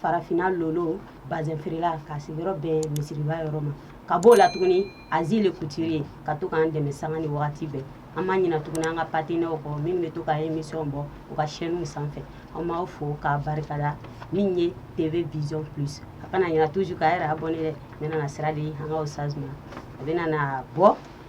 farafinna lolo bazin feerela k'a sigiyɔrɔ bɛn misiriba yɔrɔ ma ka b'o la tuguni azi le kutiri ka to k'an dɛmɛ sanga ni wagati bɛɛ an ma ɲina tuguni an ka patenaw kɔ minnu bɛ to ka emisiyɔn bɔ u ka sɛniw sanfɛ an b'aw fo k'a barikada min ye tv vision plus a kana ɲina toujours k'a yɛrɛ abɔne dɛ ne bɛna sira di an ka ustaz ma a bɛna na bɔ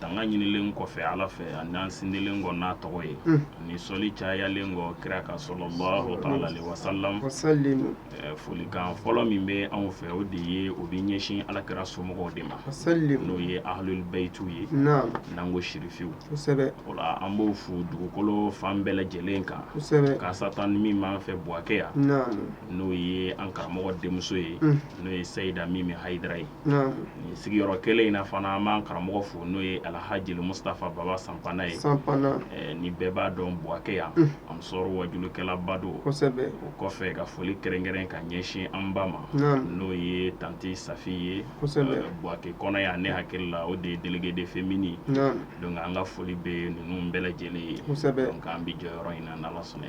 tanga ɲinilen kɔfɛ ala fɛ ani an sindilen kɔ n'a tɔgɔ ye ani sɔli cayalen kɔ kira kan salalahu alayhi wasalam folikan fɔlɔ min bɛ anw fɛ o de ye o bɛ ɲɛsin ala kira somɔgɔw de ma n'o ye ahlul bayitiw ye n'an ko sirifiw wala an b'o fo dugukolo fan bɛɛ lajɛlen kan kasatan min b'an fɛ buwakɛ yan n'o ye an karamɔgɔ denmuso ye n'o ye sayida min bɛ hayidara ye sigiyɔrɔ kelen in na fana an b'an karamɔgɔ fo n'o ye alahaj mustafa baba sanpana ye ni bɛɛ b'a dɔn buwakɛ yan ansar waajulikɛlaba don o kɔfɛ ka foli kɛrɛnkɛrɛn ka ɲɛsin an ba ma n'o ye tante safi ye buwakɛ kɔnɔ yan ne hakili la o de ye déléguée des féminines ye donc an ka foli bɛ ninnu bɛɛ lajɛlen ye donc an bɛ jɔyɔrɔ in na n'ala sɔnna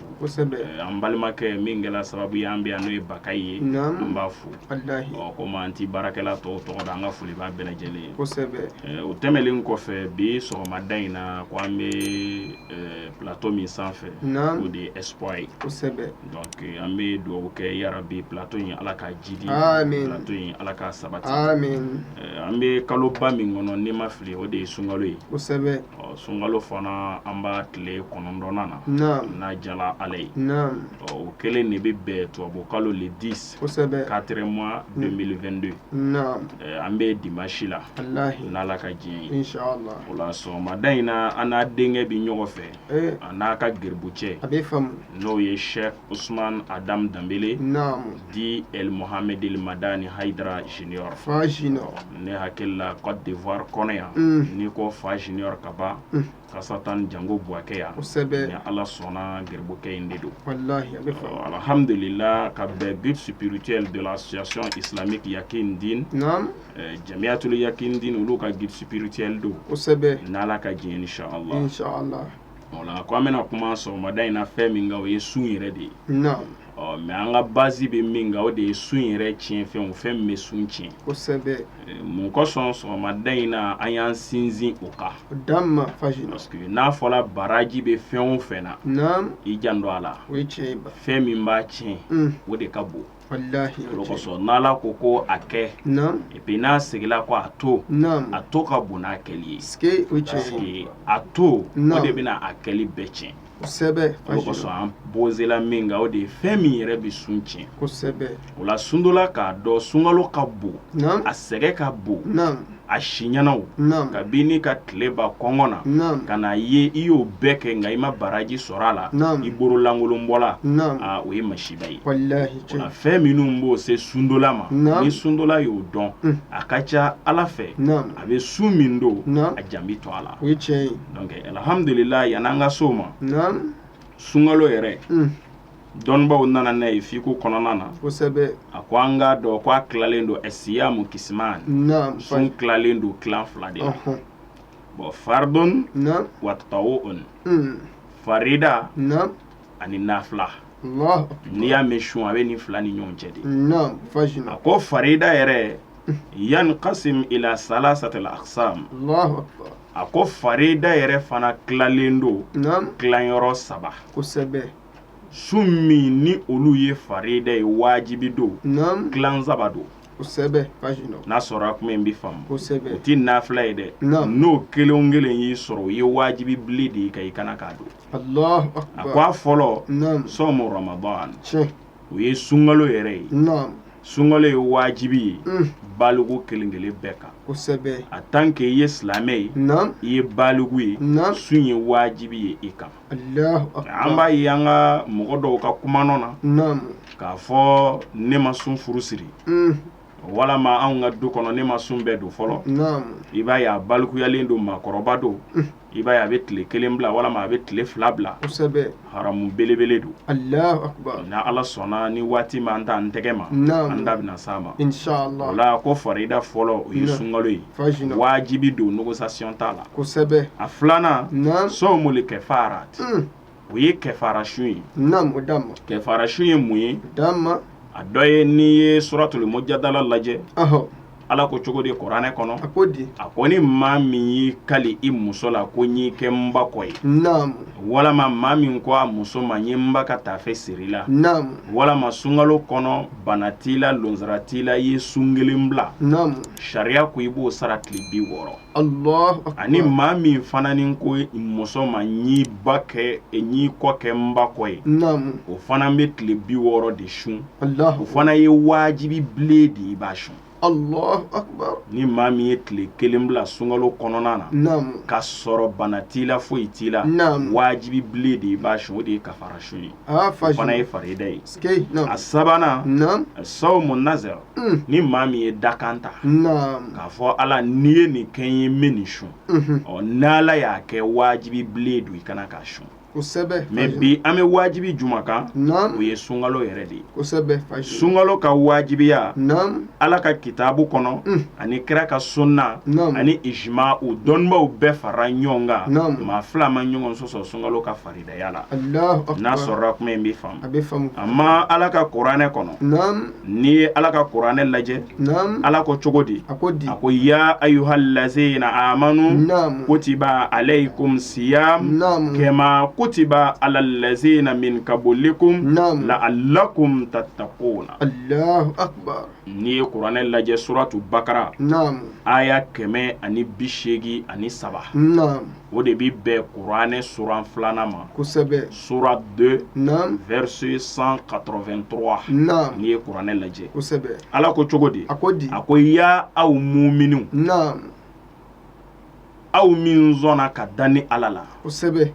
an balimakɛ min kɛra sababu ye an bɛ yan n'o ye bakari ye an b'a fo komi an tɛ baarakɛla tɔw tɔgɔ dɔn an ka foli b'a bɛɛ lajɛlen ye o tɛmɛnlen kɔfɛ bi sɔgɔmada in na ko an bɛ plateau min sanfɛ o de ye espoir ye donc an bɛ dugawu kɛ yarabi plateau in ala k'a jiidi plateau in ala k'a sabati an bɛ kaloba min kɔnɔ ni n ma fili o de ye sunkalo ye ɔ sunkalo fana an b'a tile kɔnɔntɔnnan na naam n'a diyara ala ye naam ɔ o kelen de bɛ bɛn tubabukalo le 10 kosɛbɛ quatrième mois 2022 naam Ɛ, an bɛ dimanche la alahi n'ala ka jɛn ye inshallah o la sɔgɔmada in na an n'a denkɛ bɛ ɲɔgɔn fɛ eh a n'a ka geribu cɛ a bɛ faamu n'o ye sɛk usman adam danbele naam dit Mohamed El Madani Haidara Junior fa junior ne hakili la Cote d'Ivoire kɔnɔ yan n'i ko fa junior ka ban kasatan jango Buakɛ yan kosɛbɛ ni Ala sɔnna gɛribokɛ in de don walahi a bɛ faamu alhamdulila ka bɛn guide spirituel de l'association islamique Yakin Din naam Jamiatul Yakin Din olu ka guide spirituel don kosɛbɛ n'Ala ka jɛn ye insalaah insalaah o la ko an bɛna kuma sɔgɔmada in na fɛn min kan o ye sun yɛrɛ de ye naam ɔ mais an ka basi bɛ min kan o de ye sun yɛrɛ tiɲɛ fɛn o fɛn bɛ sun tiɲɛ kosɛbɛ mun kosɔn sɔgɔmada in na an y'an sinsin o kan parce que n'a fɔra baraji bɛ fɛn o fɛn na i janto a la fɛn min b'a tiɲɛ mm. o de ka bon o kosɔn n'ala ko ko a kɛ epi n'a seginla ko a to a to ka bon n'a kɛli ye a to o de bɛna a kɛli bɛɛ tiɲɛ kosɛbɛ kosɔn bɔnzela min kan o de ye fɛn min yɛrɛ bɛ sun tiɲɛ kosɛbɛ o la sundola k'a dɔn sunkalo ka bon a sɛgɛn ka bon a siɲɛnaw ka bin n'i ka tile ban kɔngɔ na ka n'a ye i y'o bɛɛ kɛ nka i ma baraji sɔrɔ a la i bololankolon bɔla o ye masiba ye fɛn minnu b'o se sundola ma ni sundola y'o dɔn a ka ca a la fɛ a bɛ sun min don a jan bɛ to a la o ye tiɲɛ ye Alihamdulila yani an ka se o ma sunkalo yɛrɛ dɔnnibaw nana n'a ye fiku kɔnɔna na a ko an k'a dɔn ko a tilalen don ɛsiyamu kisimani sun tilalen don tilan fila de bɔ faridun wa tatawu o farida ani nafila n'i y'a mɛn sun a bɛ nin fila ni ɲɔgɔn cɛ de a ko farida yɛrɛ yankasimu ila salasati aksam a ko farida yɛrɛ fana tilalen don tilayɔrɔ saba kosɛbɛ sun min ni olu ye farida ye wajibi don tila saba don kosɛbɛ n'a sɔrɔ a kuma in bɛ faamu kosɛbɛ o tɛ nafila ye dɛ n'o kelen kelen y'i sɔrɔ o ye wajibi bilen de y'i kan i ka na k'a don a ko a fɔlɔ sawmu ramadan o ye sunkalo yɛrɛ ye sunkalo ye wajibi ye baliku kelen kelen bɛɛ kan en tant que i ye silamɛ ye i ye baliku ye sun ye wajibi ye i kan an b'a ye an ka mɔgɔ dɔw ka kuma na k'a fɔ ne ma sun furu siri walima an ka du kɔnɔ ne ma sun bɛɛ don fɔlɔ i b'a ye a balikuyalen don maakɔrɔba don i b'a ye a bɛ tile kelen bila walima a bɛ tile fila bila haramu belebele don ni ala sɔnna ni waati ma an taa an tɛgɛ ma an da bɛna se a ma o la ko faraida fɔlɔ o ye sunkalo ye wajibi don négociation t'a la a filanan sawmul kafara o ye kafara sun ye kafara sun ye mun ye a dɔ ye n'i ye suratul mujadala lajɛ ala ko cogo di kuranɛ kɔnɔ a ko ni maa min y'i kali i muso la ko n y'i kɛ n ba kɔ ye walima maa min ko a muso ma n ye n ba ka taafe siri i la walima sunkalo kɔnɔ bana t'i la lujura t'i la i ye sun kelen bila sariya ko i b'o sara tile bi wɔɔrɔ ani maa min fana ni ko muso ma n y'i ba kɛ n y'i kɔ kɛ n ba kɔ ye o fana bɛ tile bi wɔɔrɔ de sun o fana ye wajibi bilen de i b'a sun ni maa min ye tile kelen bila sunkalo kɔnɔna na k'a sɔrɔ bana t'i la foyi t'i la wajibi bilen de i b'a sun o de ye kafara sun ye fana ye farida ye a sabanan sawmu na Mm. ni maa min ye dakan ta k'a fɔ ala n'i ye nin kɛ n ye n bi nin sun mhm. ɔ n'ala y'a kɛ wajibi bilen don i kan i k'a sun mɛ bi an bɛ wajibi jumɛn kan o ye sunkalo yɛrɛ de ye sunkalo ka wajibiya ala ka kitabu kɔnɔ mm. ani kira ka sunna ani ijima o dɔnnibaw bɛɛ fara ɲɔgɔn kan maa fila ma ɲɔgɔn sɔsɔ sunkalo ka fari n'a sɔrɔ kuma in bɛ faamu a ma ala ka kuranɛ kɔnɔ n'i ye ala ka kuranɛ lajɛ ala ko cogo di a ko di a ko ya ayuha lazina amanu kutiba aleyikumu siyamu kama kutiba ala lazina min kabilikum laalakum tatakuna n'i ye kuranɛ lajɛ suratu bakara aya kɛmɛ ani bi seegin ani saba o de bɛ bɛn kuranɛ suran filanan ma kosɛbɛ sourate deux verset cent quatre-vingt-trois n'i ye kuranɛ lajɛ kosɛbɛ ala ko cogo di a ko di a ko ya aw muminiw aw min sɔnna ka da ne ala la kosɛbɛ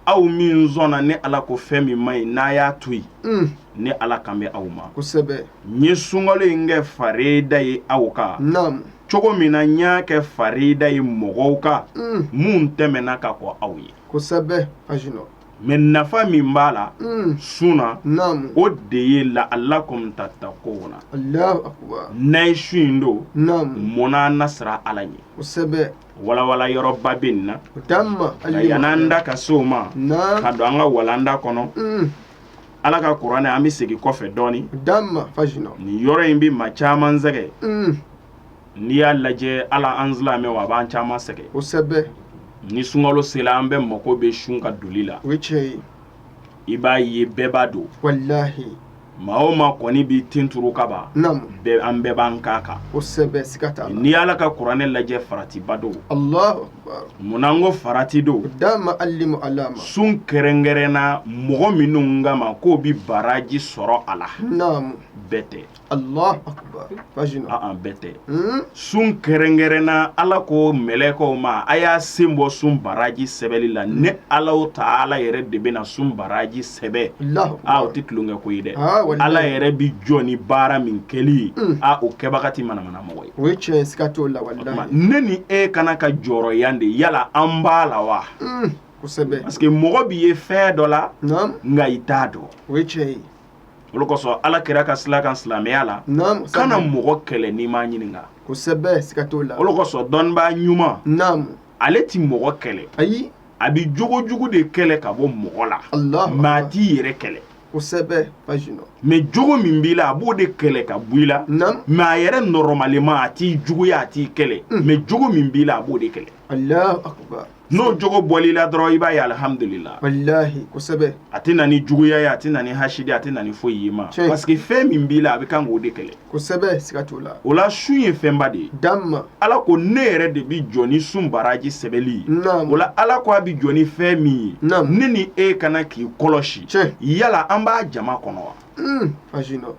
aw min sɔnna ne ala ko fɛn min man ɲi n'a y'a to yen ne ala kan bɛ aw ma kosɛbɛ n ye sunkalo in kɛ farida ye aw kan cogo min na n y'a kɛ farida ye mɔgɔw kan mm. minnu tɛmɛna ka kɔn aw ɲɛ kosɛbɛ ajinɔ mɛ nafa min b'a la mm. sun na o de ye laalakum tatakuna n'a ye sun in don mm. a na siran ala ɲɛ kosɛbɛ walawala yɔrɔba bɛ nin na yan'an da ka se o ma ka don an ka walanda kɔnɔ mm. ala ka kuranɛ an bɛ segin kɔfɛ dɔɔnin dama fajina nin yɔrɔ in bɛ maa caman sɛgɛn mm. n'i y'a lajɛ ala an silamɛw a b'an caman sɛgɛn kosɛbɛ ni sunkalo sera an bɛɛ mako bɛ sun ka doli la o ye tiɲɛ ye i b'a ye bɛɛ b'a don walahi maa o maa kɔni b'i tin turu kaaba bɛɛ an bɛɛ b'an k'a kan kosɛbɛ siga t'a la n'i y'ala ka kuranɛ lajɛ faratiba don Munna n ko farati don dama ali a la sun kɛrɛnkɛrɛn na mɔgɔ minnu ka ma k'o bɛ baraji sɔrɔ a la bɛɛ tɛ bɛɛ tɛ sun kɛrɛnkɛrɛn na ala ko mɛlɛkɛw ma a y'a sen bɔ sun baraji sɛbɛnli la ne ala b'o ta ala yɛrɛ de bɛna sun baraji sɛbɛn o tɛ tulonkɛ ko ye dɛ ala yɛrɛ bɛ jɔ ni baara min kɛli ye o kɛbaga ti manamana mɔgɔ ye o ye tiɲɛ siga t'o la walahi ne ni e ka kan ka jɔrɔ yan de yala an b'a la wa hmm, kosɛbɛ parce que mɔgɔ b'i ye fɛn dɔ la nka i t'a dɔn o ye tiɲɛ ye o le kosɔn ala kira ka sila kan silamɛya la kana mɔgɔ kɛlɛ n'i m'a ɲininka kosɛbɛ siga t'o la o le kosɔn dɔnnibaa ɲuman ale ti mɔgɔ kɛlɛ ayi a bi jogo jugu de kɛlɛ ka bɔ mɔgɔ la mɛ a t'i yɛrɛ kɛlɛ kosɛbɛ Fajinɔ mais jogo min b'i la a b'o de kɛlɛ ka bɔ i la mais a yɛrɛ normalement a t'i juguya a t'i kɛlɛ hmm. mais jogo min b'i la a b'o de kɛlɛ alahu akubar n'o jogo bɔl'i la dɔrɔn i b'a ye alihamudulila walahi kosɛbɛ a tɛ na ni juguya ye a tɛ na ni hasidi a tɛ na ni foyi y'i ma parce que fɛn min b'i la a bɛ kan k'o de kɛlɛ kosɛbɛ siga t'o la o la sun ye fɛnba de ye damma ala ko ne yɛrɛ de bi jɔ ni sun baraji sɛbɛli ye naam o la ala ko a bi jɔ ni fɛn min ye naam ne ni e kana k'i kɔlɔsi tiɲɛ yala an b'a jama kɔnɔ wa mm. Fajinɔ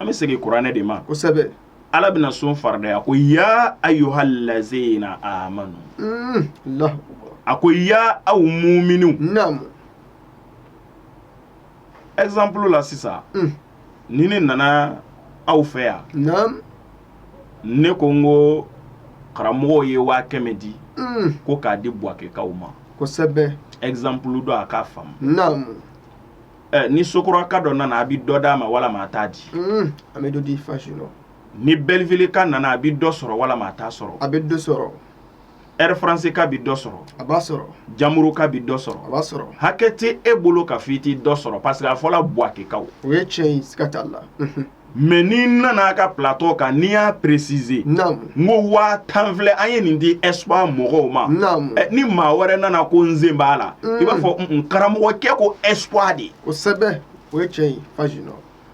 an bɛ segin kuranɛ de ma kosɛbɛ ala bɛna sun faridaya ko ya ayuha lazina amanu mm. allahu akbar a ko ya aw muminiw naam exemple la sisan mm. ni ne nana aw fɛ yan naam ne ko n ko karamɔgɔw ye waa kɛmɛ di mm. ko k'a di buwakekaw ma kosɛbɛ exemple don aw k'a faamu naam eh, ni sokoraka dɔ nana a bi dɔ d'a ma walama a t'a di mm. an bɛ dɔ di Fajinɔ ni Belleville ka nana a bi dɔ sɔrɔ walama a t'a sɔrɔ a bɛ dɔ sɔrɔ Air France ka bi dɔ sɔrɔ, a b'a sɔrɔ, Jamuru ka bi dɔ sɔrɔ, a b'a sɔrɔ, hakɛ tɛ e bolo k'a fɔ i tɛ dɔ sɔrɔ parce que a fɔla buwakekaw, o ye tiɲɛ ye siga t'a la, unhun, mais ni n nana aw ka plateau kan ni n y'a préciser, naamu, n ko waa tan filɛ an ye nin di Espoir mɔgɔw ma, naamu, ɛ ni maa wɛrɛ nana ko n sen b'a la, un, i b'a fɔ un un karamɔgɔcɛ ko Espoir de, kosɛbɛ, o ye tiɲɛ ye Fajinɔ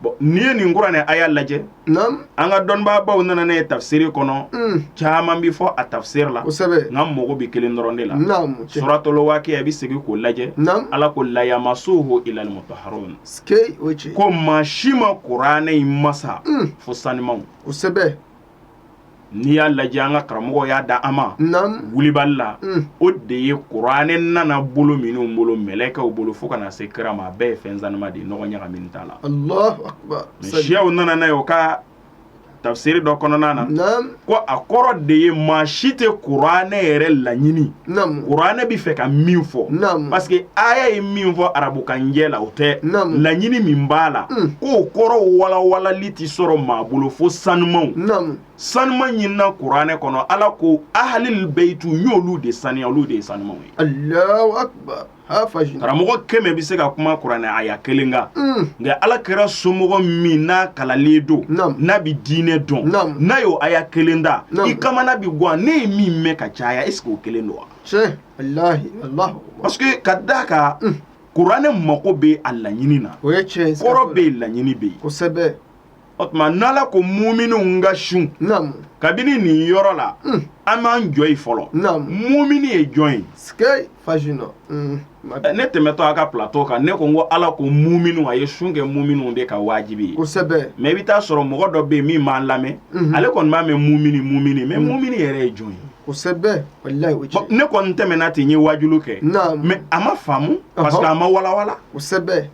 Bon n'i ye nin kuranɛ aya lajɛ an ka dɔnnibaabaw nana n'a ye tafsiri kɔnɔ caman bɛ fɔ a tafsiri la kosɛbɛ nka mago bɛ kelen dɔrɔn de la suratul wakiya bɛ segin k'o lajɛ ala ko la yamasuhu ilal mutaharun ko maa si ma kuranɛ masa fo sanumanw kosɛbɛ n'i y'a lajɛ an ka karamɔgɔw y'a da an ma wulibali la o de ye kuranɛ nana bolo minnu bolo mɛlɛkɛw bolo fo ka na se kira ma a bɛɛ ye fɛn sanuman de nɔgɔ ɲagami t'a la allahu akbar mais siyaw nana n'a ye o ka tafsiri dɔ kɔnɔna na ko a kɔrɔ de ye maa si tɛ kuranɛ yɛrɛ laɲini Namu. kuranɛ bɛ fɛ ka min fɔ Namu. parce que aya ye min fɔ arabukanjɛ la o tɛ Namu. laɲini min b'a la Mm. k'o kɔrɔ walawalali tɛ sɔrɔ maa bolo fo sanumanw namu sanuman ɲinina kuranɛ kɔnɔ ala ko ahalil beyitu n y'olu de saniya olu de ye sanumanw ye allahu akbar karamɔgɔ kɛmɛ bɛ se ka kuma kuranɛ aya kelen kan mm. nka ala kira somɔgɔ min n'a kalannen don n'a bɛ diinɛ dɔn n'a y'o aya kelen da i kamana bɛ gwan ne ye min mɛn ka caya est ce que o kelen don wa parce que ka d'a kan mm. kuranɛ mako bɛ a laɲini na kɔrɔ bɛ yen laɲini bɛ yen o tuma n'ala ko mumininw n ka sun naamu kabini nin yɔrɔ la Mm. an b'an jɔ yen fɔlɔ naamu mumini ye jɔn ye sikei fajinɔ Mm, ma Ɛ, ne tɛmɛtɔ a ka plateau kan ne ko n ko ala ko mumininw a ye sun kɛ mumininw de kan wajibi ye kosɛbɛ mais i bɛ taa sɔrɔ mɔgɔ dɔ bɛ yen min b'an lamɛn Mhm. ale kɔni b'a mɛn mumini mumini mais mumini yɛrɛ ye jɔn ye kosɛbɛ walayi o Bɔn, tiɲɛ ne kɔni tɛmɛna ten n ye waajulu kɛ naamu mais a ma faamu parce que a ma walawala kosɛbɛ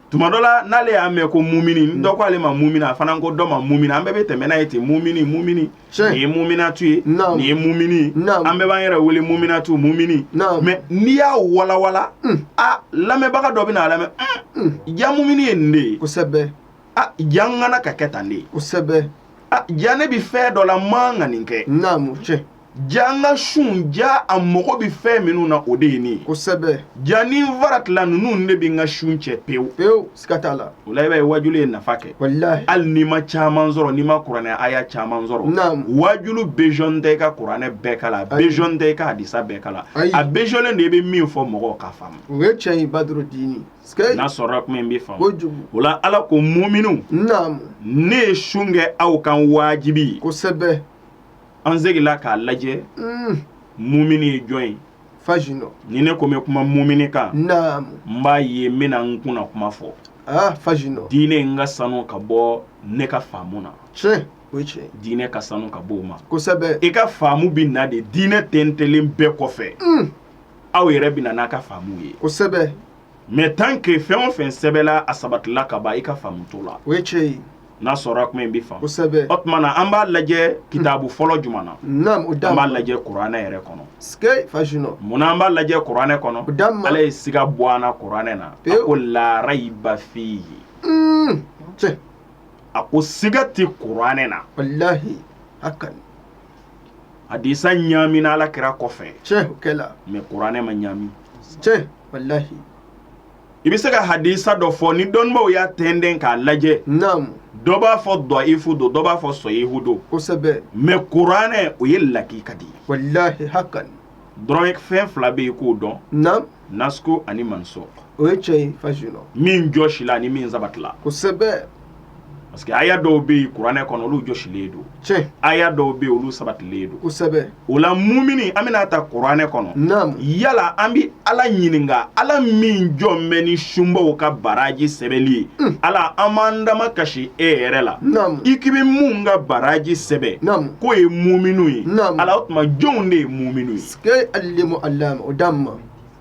tuma dɔ la n'ale y'a mɛn ko mumini mm. dɔ ko ale ma mumini a fana ko dɔ ma mumini an bɛɛ bɛ tɛmɛ n'a ye ten mumini mumini nin ye muminatu ye nin ye mumini an bɛɛ b'an yɛrɛ wele muminatu mumini mais n'i y'a walawala mm. a lamɛnbaga dɔ bɛ na a lamɛn mm, ja mumini ye nin de ye kosɛbɛ a ja n ka kan ka kɛ tan de ye kosɛbɛ a ja ne bɛ fɛn dɔ la n man kan ka nin kɛ naamu cɛ Ja an ka sun ja a mako bɛ fɛn minnu na o de ye nin kosɛbɛ ja ni n faratila ninnu de bɛ n ka sun cɛ pewu pewu siga t'a la o la i b'a ye waajulu ye nafa kɛ hali n'i ma caman sɔrɔ n'i ma kuranɛ aya caman sɔrɔ waajulu besoin tɛ i ka kuranɛ bɛɛ kalan a besoin tɛ i ka hadisa bɛɛ kalan a besoinnen de i bɛ min fɔ mɔgɔw k'a faamu o ye cɛ in ba dɔrɔn n'a sɔrɔ tun in bɛ fɔ kojugu o la ala ko mumininw ne ye sun kɛ aw kan wajibi kosɛbɛ an seginla k'a lajɛ mumini ye jɔn ye fajinɔ ni ne ko n bɛ kuma mumini kan n b'a ye n bɛna n kunna kuma fɔ fajinɔ diinɛ in ka sanu ka bɔ ne ka faamu na o ye cɛ ye diinɛ ka sanu ka bɔ o ma kosɛbɛ i ka faamu bɛ na de diinɛ tɛntɛnlen bɛɛ kɔfɛ aw yɛrɛ bɛ na n'a ka faamu ye kosɛbɛ mais tant que fɛn o fɛn sɛbɛnla a sabatila ka ban i ka faamu t'o la o n'a sɔrɔ kuma in bɛ faamu kosɛbɛ o tuma na an b'a lajɛ kitabu fɔlɔ jumɛn na an b'a lajɛ kuranɛ yɛrɛ kɔnɔ sikei fajinɔ munna an b'a lajɛ kuranɛ kɔnɔ ala ye siga bɔ an na kuranɛ na a ko laa rayba fiihi a ko siga tɛ kuranɛ na walayi hakan hadisa ɲamina ala kira kɔfɛ mais kuranɛ ma ɲami walayi i bɛ se ka hadisa dɔ fɔ ni dɔnnibaaw y'a tɛntɛn k'a lajɛ naamu dɔ b'a fɔ dɔyifu don dɔ b'a fɔ sɔhihu don kosɛbɛ mais kuranɛ o ye lakika de ye walahi hakan dɔrɔn fɛn fila bɛ yen k'o dɔn naamu nasiku ani mansuku o ye cɛ ye fajinɔ min jɔsila ani min sabatila kosɛbɛ parce que aya dɔw bɛ yen kuranɛ kɔnɔ olu jɔsilen don tiɲɛ aya dɔw bɛ yen olu sabatilen don kosɛbɛ o la mumini an bɛna taa kuranɛ kɔnɔ naamu yala an bɛ ala ɲininka ala min jɔn bɛ ni sunbaw ka baraji sɛbɛnli ye hmm. ala an b'an damakasi e yɛrɛ la naamu i k'i bɛ mun ka baraji sɛbɛn naamu k'o ye muminu ye naamu ala o tuma jɔnw de ye muminu ye sikɛ alimu alamu o d'a ma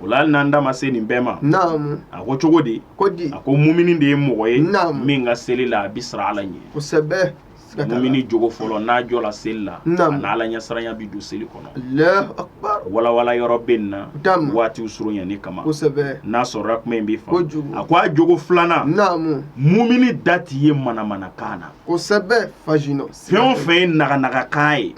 o la hali n'an da ma se nin bɛɛ ma a ko cogo di a ko mumini de ye mɔgɔ ye min ka seli la a bɛ siran ala ɲɛ mumini jogo fɔlɔ n'a jɔla seli la ani ala ɲɛsiranya bɛ don seli kɔnɔ walawala yɔrɔ bɛ nin na waatiw surunya nin kama n'a sɔrɔla kuma in bɛ fa a ko a jogo filanan mumini da tɛ ye manamanakan na fɛn o fɛn ye naganagakan ye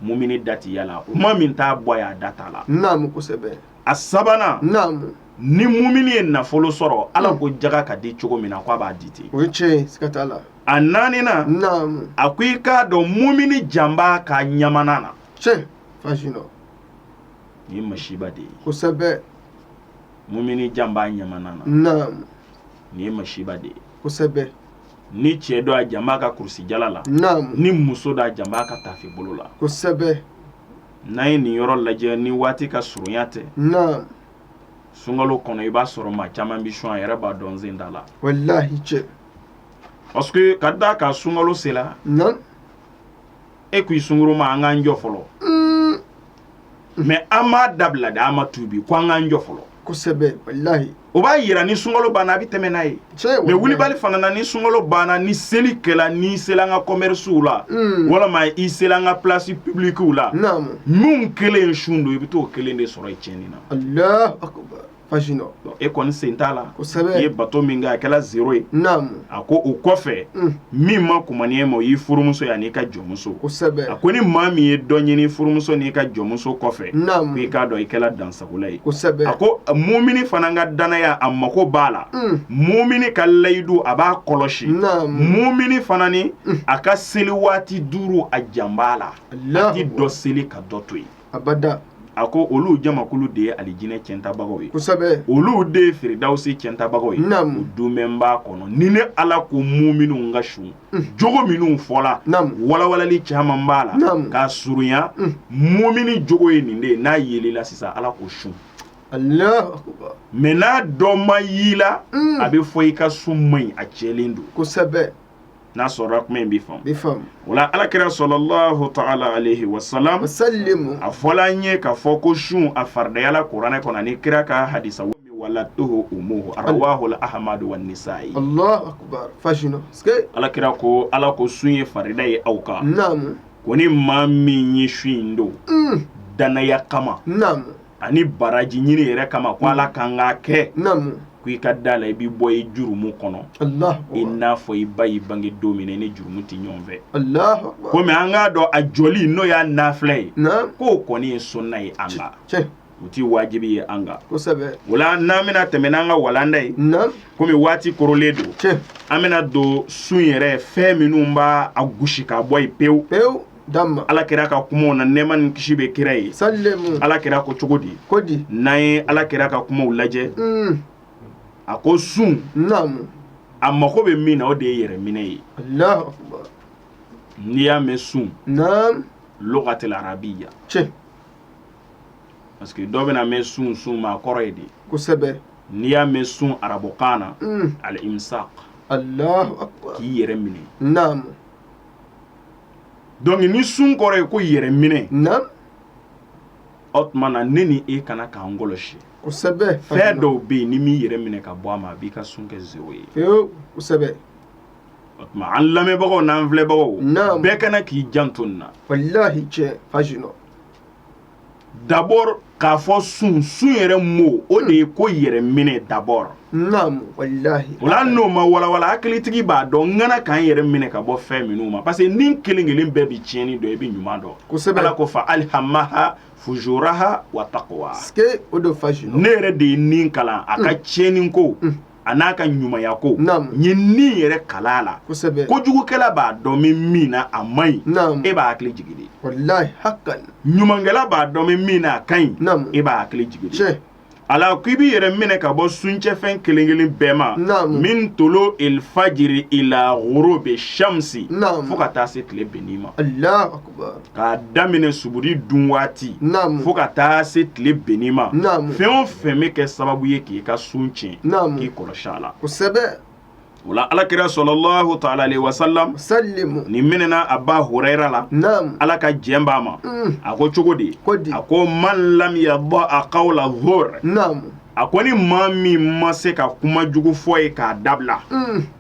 mumini da tɛ y'a la kuma min t'a bɔ a da t'a la naamu kosɛbɛ a sabanan naamu ni mumini ye nafolo sɔrɔ ala hmm. ko jaga ka di cogo min na k'a b'a di ten o ye tiɲɛ siga t'a la a naaninan naamu a ko i k'a dɔn mumini jan b'a ka ɲamana na tiɲɛ fasi dɔ nin ye masiba de ye kosɛbɛ mumini jan b'a ɲamana na naamu nin ye masiba de ye kosɛbɛ ni cɛ don a jan b'a ka kulusijala la ni muso don a jan b'a ka taafe bolo la kosɛbɛ n'an ye nin yɔrɔ lajɛ ni waati ka surunya tɛ sunkalo kɔnɔ i b'a sɔrɔ maa caman bɛ sun a yɛrɛ b'a dɔn sen t'a la walahi tiɲɛ parce que ka d'a kan sunkalo sela e ko i sunguru ma an k'an jɔ fɔlɔ mm. mɛ an m'a dabila de an ma tubi ko an k'an jɔ fɔlɔ kosɛbɛ walahi o b'a yira ni sunkalo banna a bɛ tɛmɛ n'a ye mɛ wulibali fana na ni sunkalo banna ni seli kɛla n'i sela an ka kɔmɛrisiw la mm. walama i sela an ka pilasi pibilikiw la min kelen sun don i bɛ t'o kelen de sɔrɔ i tiɲɛni na fasi dɔ Donc, e kɔni sen t'a la Kosɛbɛ. i ye bato min kɛ a kɛla zero ye naamu a ko o kɔfɛ Mm. min ma kumani ye ma o y'i furumuso ye an'i ka jɔnmuso kosɛbɛ a ko ni maa min ye dɔ ɲini furumuso n'i ka jɔnmuso kɔfɛ Naamu. ko i k'a dɔn i kɛla dansagola ye kosɛbɛ a ko mumini fana ka dannaya a mako b'a la Mm. mumini ka layidu a b'a kɔlɔsi Naamu. mumini fana ni a ka seli waati duuru a jan b'a la a Alahu tɛ dɔ seli ka dɔ to yen abada a ko olu jamakulu de ye alijinɛ ciyɛntabagaw ye kosɛbɛ olu de ye firidawsi ciyɛntabagaw ye duumɛn b'a kɔnɔ ni ne ala ko muminiw ka sun jogo minnu fɔla walawali caman b'a la k'a surunya mumini jogo ye nin de ye n'a yel'i la sisan ala ko i sunna mɛ n'a dɔ ma y'i la a bɛ fɔ i ka sun man ɲi a tiɲɛlen don kosɛbɛ n'a sɔrɔ kuma in bɛ faamu bɛ faamu o la ala kira salalahu taala alehi wasalam wasalimu a fɔla an ye k'a fɔ ko sun a faridayala kuranɛ kɔnɔ ani kira ka hadisa wa wala toho umuhu arawahu ahamadu wa nisa'i Allahu akbar parce que ala kira ko ala ko sun ye farida ye aw kan naamu ko ni maa min ye sun in don dannaya kama naamu ani baraji ɲini yɛrɛ kama ko ala kan k'a kɛ ko i ka da la i b'i bɔ i jurumu kɔnɔ i n'a fɔ i ba y'i bange don min ni jurumu tɛ ɲɔgɔn fɛ komi an k'a dɔn a jɔli n'o y'a nafila ye k'o kɔni ye sunna ye nka u tɛ wajibi ye an kan o la n'an bɛna tɛmɛ n'an ka walanda ye komi waati korolen don an bɛna don sun yɛrɛ fɛn minnu b'a a gosi ka bɔ yen pewu ala kira ka kumaw na nɛma ni kisi bɛ kira ye sa ala kira ko cogo di ko di n'an ye ala kira ka kumaw lajɛ a ko sun a mago bɛ min na o de ye yɛrɛ minɛ ye n'i y'a mɛn sun lugatil arabiya parce que dɔ bɛna mɛn sun sun ma kɔrɔ ye di kosɛbɛ n'i y'a mɛn sun arabukan na alimsak k'i yɛrɛ minɛ donc ni sun kɔrɔ ye ko yɛrɛ minɛ na o tuma na ne ni e ka kan k'an kɔlɔsi kosɛbɛ fɛn dɔw bɛ yen n'i m'i yɛrɛ minɛ ka bɔ a ma a b'i ka sun kɛ zéro ye kosɛbɛ o tuma an lamɛnbagaw n'an filɛbagaw bɛɛ ka kan k'i janto nin na d'abord k'a fɔ sun sun yɛrɛ mɔ o de ye ko yɛrɛ minɛ d'abord o la n'o ma walawala hakilitigi b'a dɔn an ka kan k'an yɛrɛ minɛ ka bɔ fɛn minnu ma parce que ni kelen kelen bɛɛ bɛ tiɲɛni dɔn i bɛ ɲuman dɔn kosɛbɛ ala ko fa alhamaha fujuraha wa takwaha ne yɛrɛ de ye ni kalan a ka tiɲɛni ko a n'a ka ɲumanya ko ye ni yɛrɛ kalan a la kojugukɛla b'a dɔn min min na a man ɲi e b'a hakili jigin ɲumankɛla b'a dɔn min min na a ka ɲi e b'a hakili jigin ala ko i b'i yɛrɛ minɛ ka bɔ suntiɲɛfɛn kelenkelen bɛɛ ma min tulu'il fajri ila gurubi shamsi fo ka taa se tile benni ma k'a daminɛ suburi dun waati fo ka taa se tile benni ma fɛn o fɛn bɛ kɛ sababu ye k'i ka sun tiɲɛ k'i kɔlɔsi a la o la ala kira sɔlɔlɔhu taala alehi wasalam nin minɛna Aba Hurayira la Ala ka jɛn b'a ma mm. a ko cogo di a ko man lam yada'a qawla zuur a ko ni maa min ma se ka kuma jugu fɔ ye k'a dabila mm.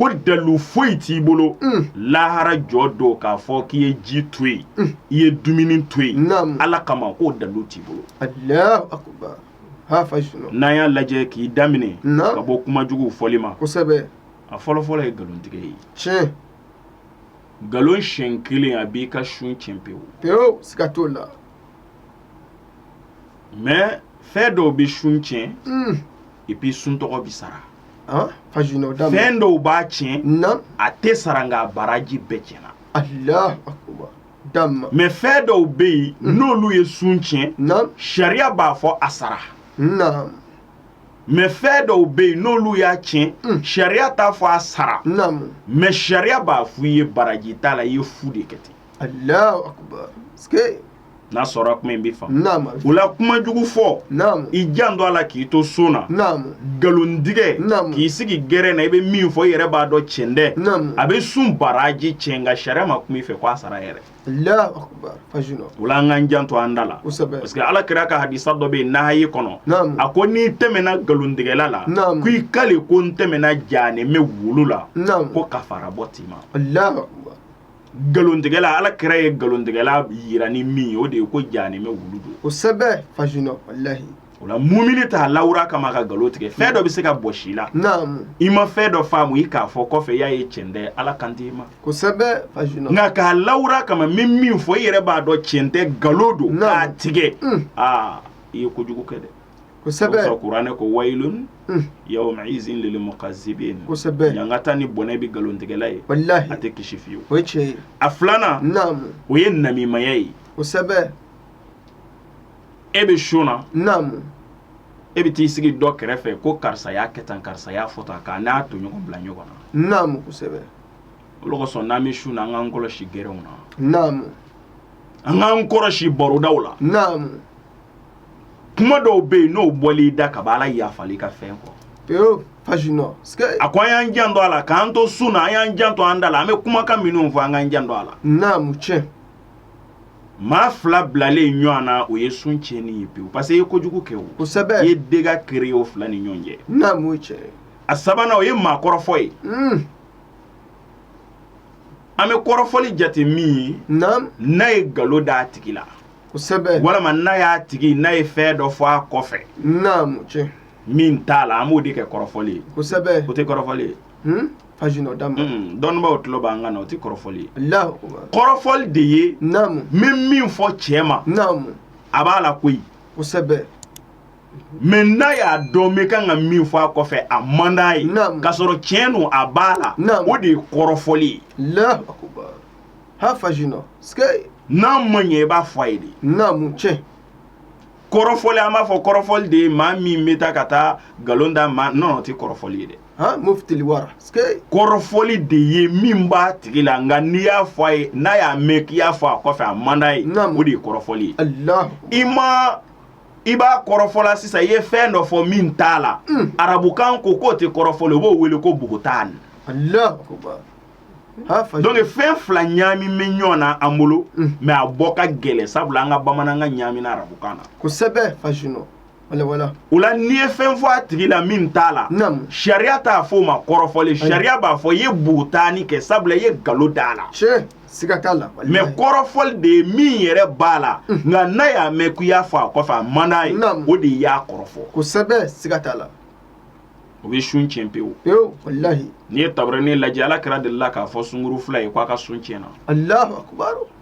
ko dalu foyi t'i bolo mm. lahara jɔ don k'a fɔ k'i ye ji to yen mm. i ye dumuni to yen ala kama ko dalu t'i bolo n'an y'a lajɛ k'i daminɛ ka bɔ kuma juguw fɔli ma a fɔlɔfɔlɔ ye nkalontigɛ ye tiɲɛ nkalon siɲɛ kelen a b'i ka sun tiɲɛ pewu pewu siga t'o la mais fɛn dɔw bɛ sun tiɲɛ mm. epi sun tɔgɔ bɛ sara an page nɔ da fɛn dɔw b'a tiɲɛ naamu a tɛ sara nka a baraji bɛɛ tiɲɛna alahu akubar dama mais fɛn dɔw bɛ yen n'olu ye sun tiɲɛ naamu sariya b'a fɔ a sara naamu mais fɛn dɔw bɛ yen n'olu y'a tiɲɛ sariya t'a fɔ a sara naamu mais sariya b'a fɔ i ye baraji t'a la i ye fu de kɛ ten alahu akubar ske n'a sɔrɔ kuma i b'a fɔ o la kuma jugu fɔ i janto a la k'i to sun na nkalontigɛ k'i sigi gɛrɛ na i bɛ min fɔ i yɛrɛ b'a dɔn cɛn tɛ a bɛ sun baraji cɛn nka sariya ma kuma i fɛ k'a sara yɛrɛ o la an k'an janto an da la parce que ala kira ka hadisa dɔ bɛ yen n'a ye kɔnɔ a ko n'i tɛmɛna nkalontigɛla la k'i kali ko n tɛmɛna jahanɛmɛ wulu la ko kafara bɔ t'i ma nkalontigɛla ala kira ye nkalontigɛla yira ni min ye o de ye ko jahanɛmɛ wulu don kosɛbɛ fajuna walahi o la mumini t'a lawura kama ka nkalon tigɛ fɛn dɔ bɛ se ka bɔsi i la naamu i ma fɛn dɔ faamu i k'a fɔ kɔfɛ i y'a ye cɛn tɛ ala kan t'i ma kosɛbɛ fajuna nka k'a lawura kama n bɛ min fɔ i yɛrɛ b'a dɔn cɛn tɛ nkalon don Naamu. k'a tigɛ Mm. aa i ye kojugu kɛ dɛ kosɛbɛ kuranɛ ko wayilun yawma izin lil mukazibin ɲankata ni bɔnɛ bɛ nkalontigɛla ye a tɛ kisi fiyewu cɛ a filanan o ye namimaya ye kosɛbɛ e bɛ sun na e bɛ t'i sigi dɔ kɛrɛfɛ ko karisa y'a kɛ tan karisa y'a fɔ tan k'a n'a tɔɲɔgɔn bila ɲɔgɔn na o de kosɔn n'an bɛ sun na an k'an kɔlɔsi gɛrɛw na an k'an kɔlɔsi barodaw la kuma dɔw bɛ yen n'o bɔl'i da ka ala yafali ka fɛn kɔ a ko an y'an janto a la k'an to sun na an y'an janto an da la an bɛ kumakan minnu fɔ an k'an janto a la naamu cɛ maa fila bilalen ɲɔgɔn na o ye sun tiɲɛni ye pewu parce que i ye kojugu kɛ o kosɛbɛ i ye dega kere o fila ni ɲɔgɔn cɛ naamu cɛ a sabanan o ye maa kɔrɔfɔ ye hmm. an bɛ kɔrɔfɔli jate min ye n'a ye nkalon d'a tigi la kosɛbɛ walama n'a y'a tigi n'a ye fɛn dɔ fɔ a kɔfɛ naamu tiɲɛ min t'a la an b'o de kɛ kɔrɔfɔli ye kosɛbɛ o tɛ kɔrɔfɔli ye hmm? fajuna dama hmm, dɔnnibaaw tulo b'an kan na o tɛ kɔrɔfɔli ye Alahu akibaru. kɔrɔfɔli de ye naamu n bɛ min fɔ cɛ ma naamu a b'a la koyi kosɛbɛ mais n'a y'a dɔn n bɛ kan ka min fɔ a kɔfɛ a man d'a ye Naamu. k'a sɔrɔ tiɲɛ don a b'a la Naamu. o de ye kɔrɔfɔli ye Alahu akibaru. ha fajinɔ sike n'a ma ɲɛ i b'a fɔ a ye de naamu cɛ kɔrɔfɔli an b'a fɔ kɔrɔfɔli de ye maa min bɛ taa ka taa nkalon da maa na o tɛ kɔrɔfɔli ye dɛ ha mufitili wara sike kɔrɔfɔli de ye min b'a tigi la nka n'i y'a fɔ a ye n'a y'a mɛn k'i y'a fɔ a kɔfɛ a man d'a ye Naamu. o de ye kɔrɔfɔli ye alahu i ma i b'a kɔrɔfɔla sisan i ye fɛn dɔ fɔ min t'a la arabukan ko k'o tɛ kɔrɔfɔli o b'o wele ko bugutan alahu akubar donc fɛn fila ɲaami bɛ ɲɔgɔn na an bolo mais a bɔ ka gɛlɛ sabula an ka bamanankan ɲaamina arabukan na kosɛbɛ fasino o la n'i ye fɛn fɔ a tigi la min t'a la sariya t'a fɔ o ma kɔrɔfɔli sariya b'a fɔ i ye bugutaani kɛ sabula i ye galo d'a la siga t'a la mais kɔrɔfɔli de ye min yɛrɛ b'a la nka n'a y'a mɛn k'i y'a fɔ a kɔfɛ a man d'a ye o de i y'a kɔrɔfɔ kosɛbɛ siga t'a la o bɛ sun tiɲɛ pewu pewu walahi n'i ye tabarani lajɛ ala kira delila k'a fɔ sungurun fila ye k'a ka sun tiɲɛna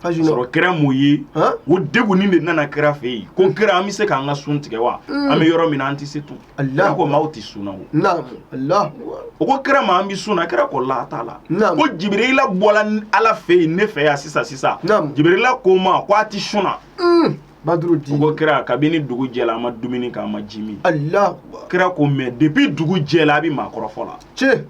sɔrɔ kira m'o ye o degunnen de nana kira fɛ yen ko kira an bɛ se k'an ka sun tigɛ wa mm. an bɛ yɔrɔ min na an tɛ se tun a k'o ma aw tɛ sun na o ko kira ma an bɛ sun na kira ko la t'a la ko jibirila bɔla ala fɛ yen ne fɛ yan sisan sisan jibirila ko n ma ko a tɛ sun na mm. badru di ko kira kabini dugu jɛla an ma dumuni kɛ an ma ji min allah kira ko mais depuis dugu jɛla a bɛ maa kɔrɔfɔ la cɛ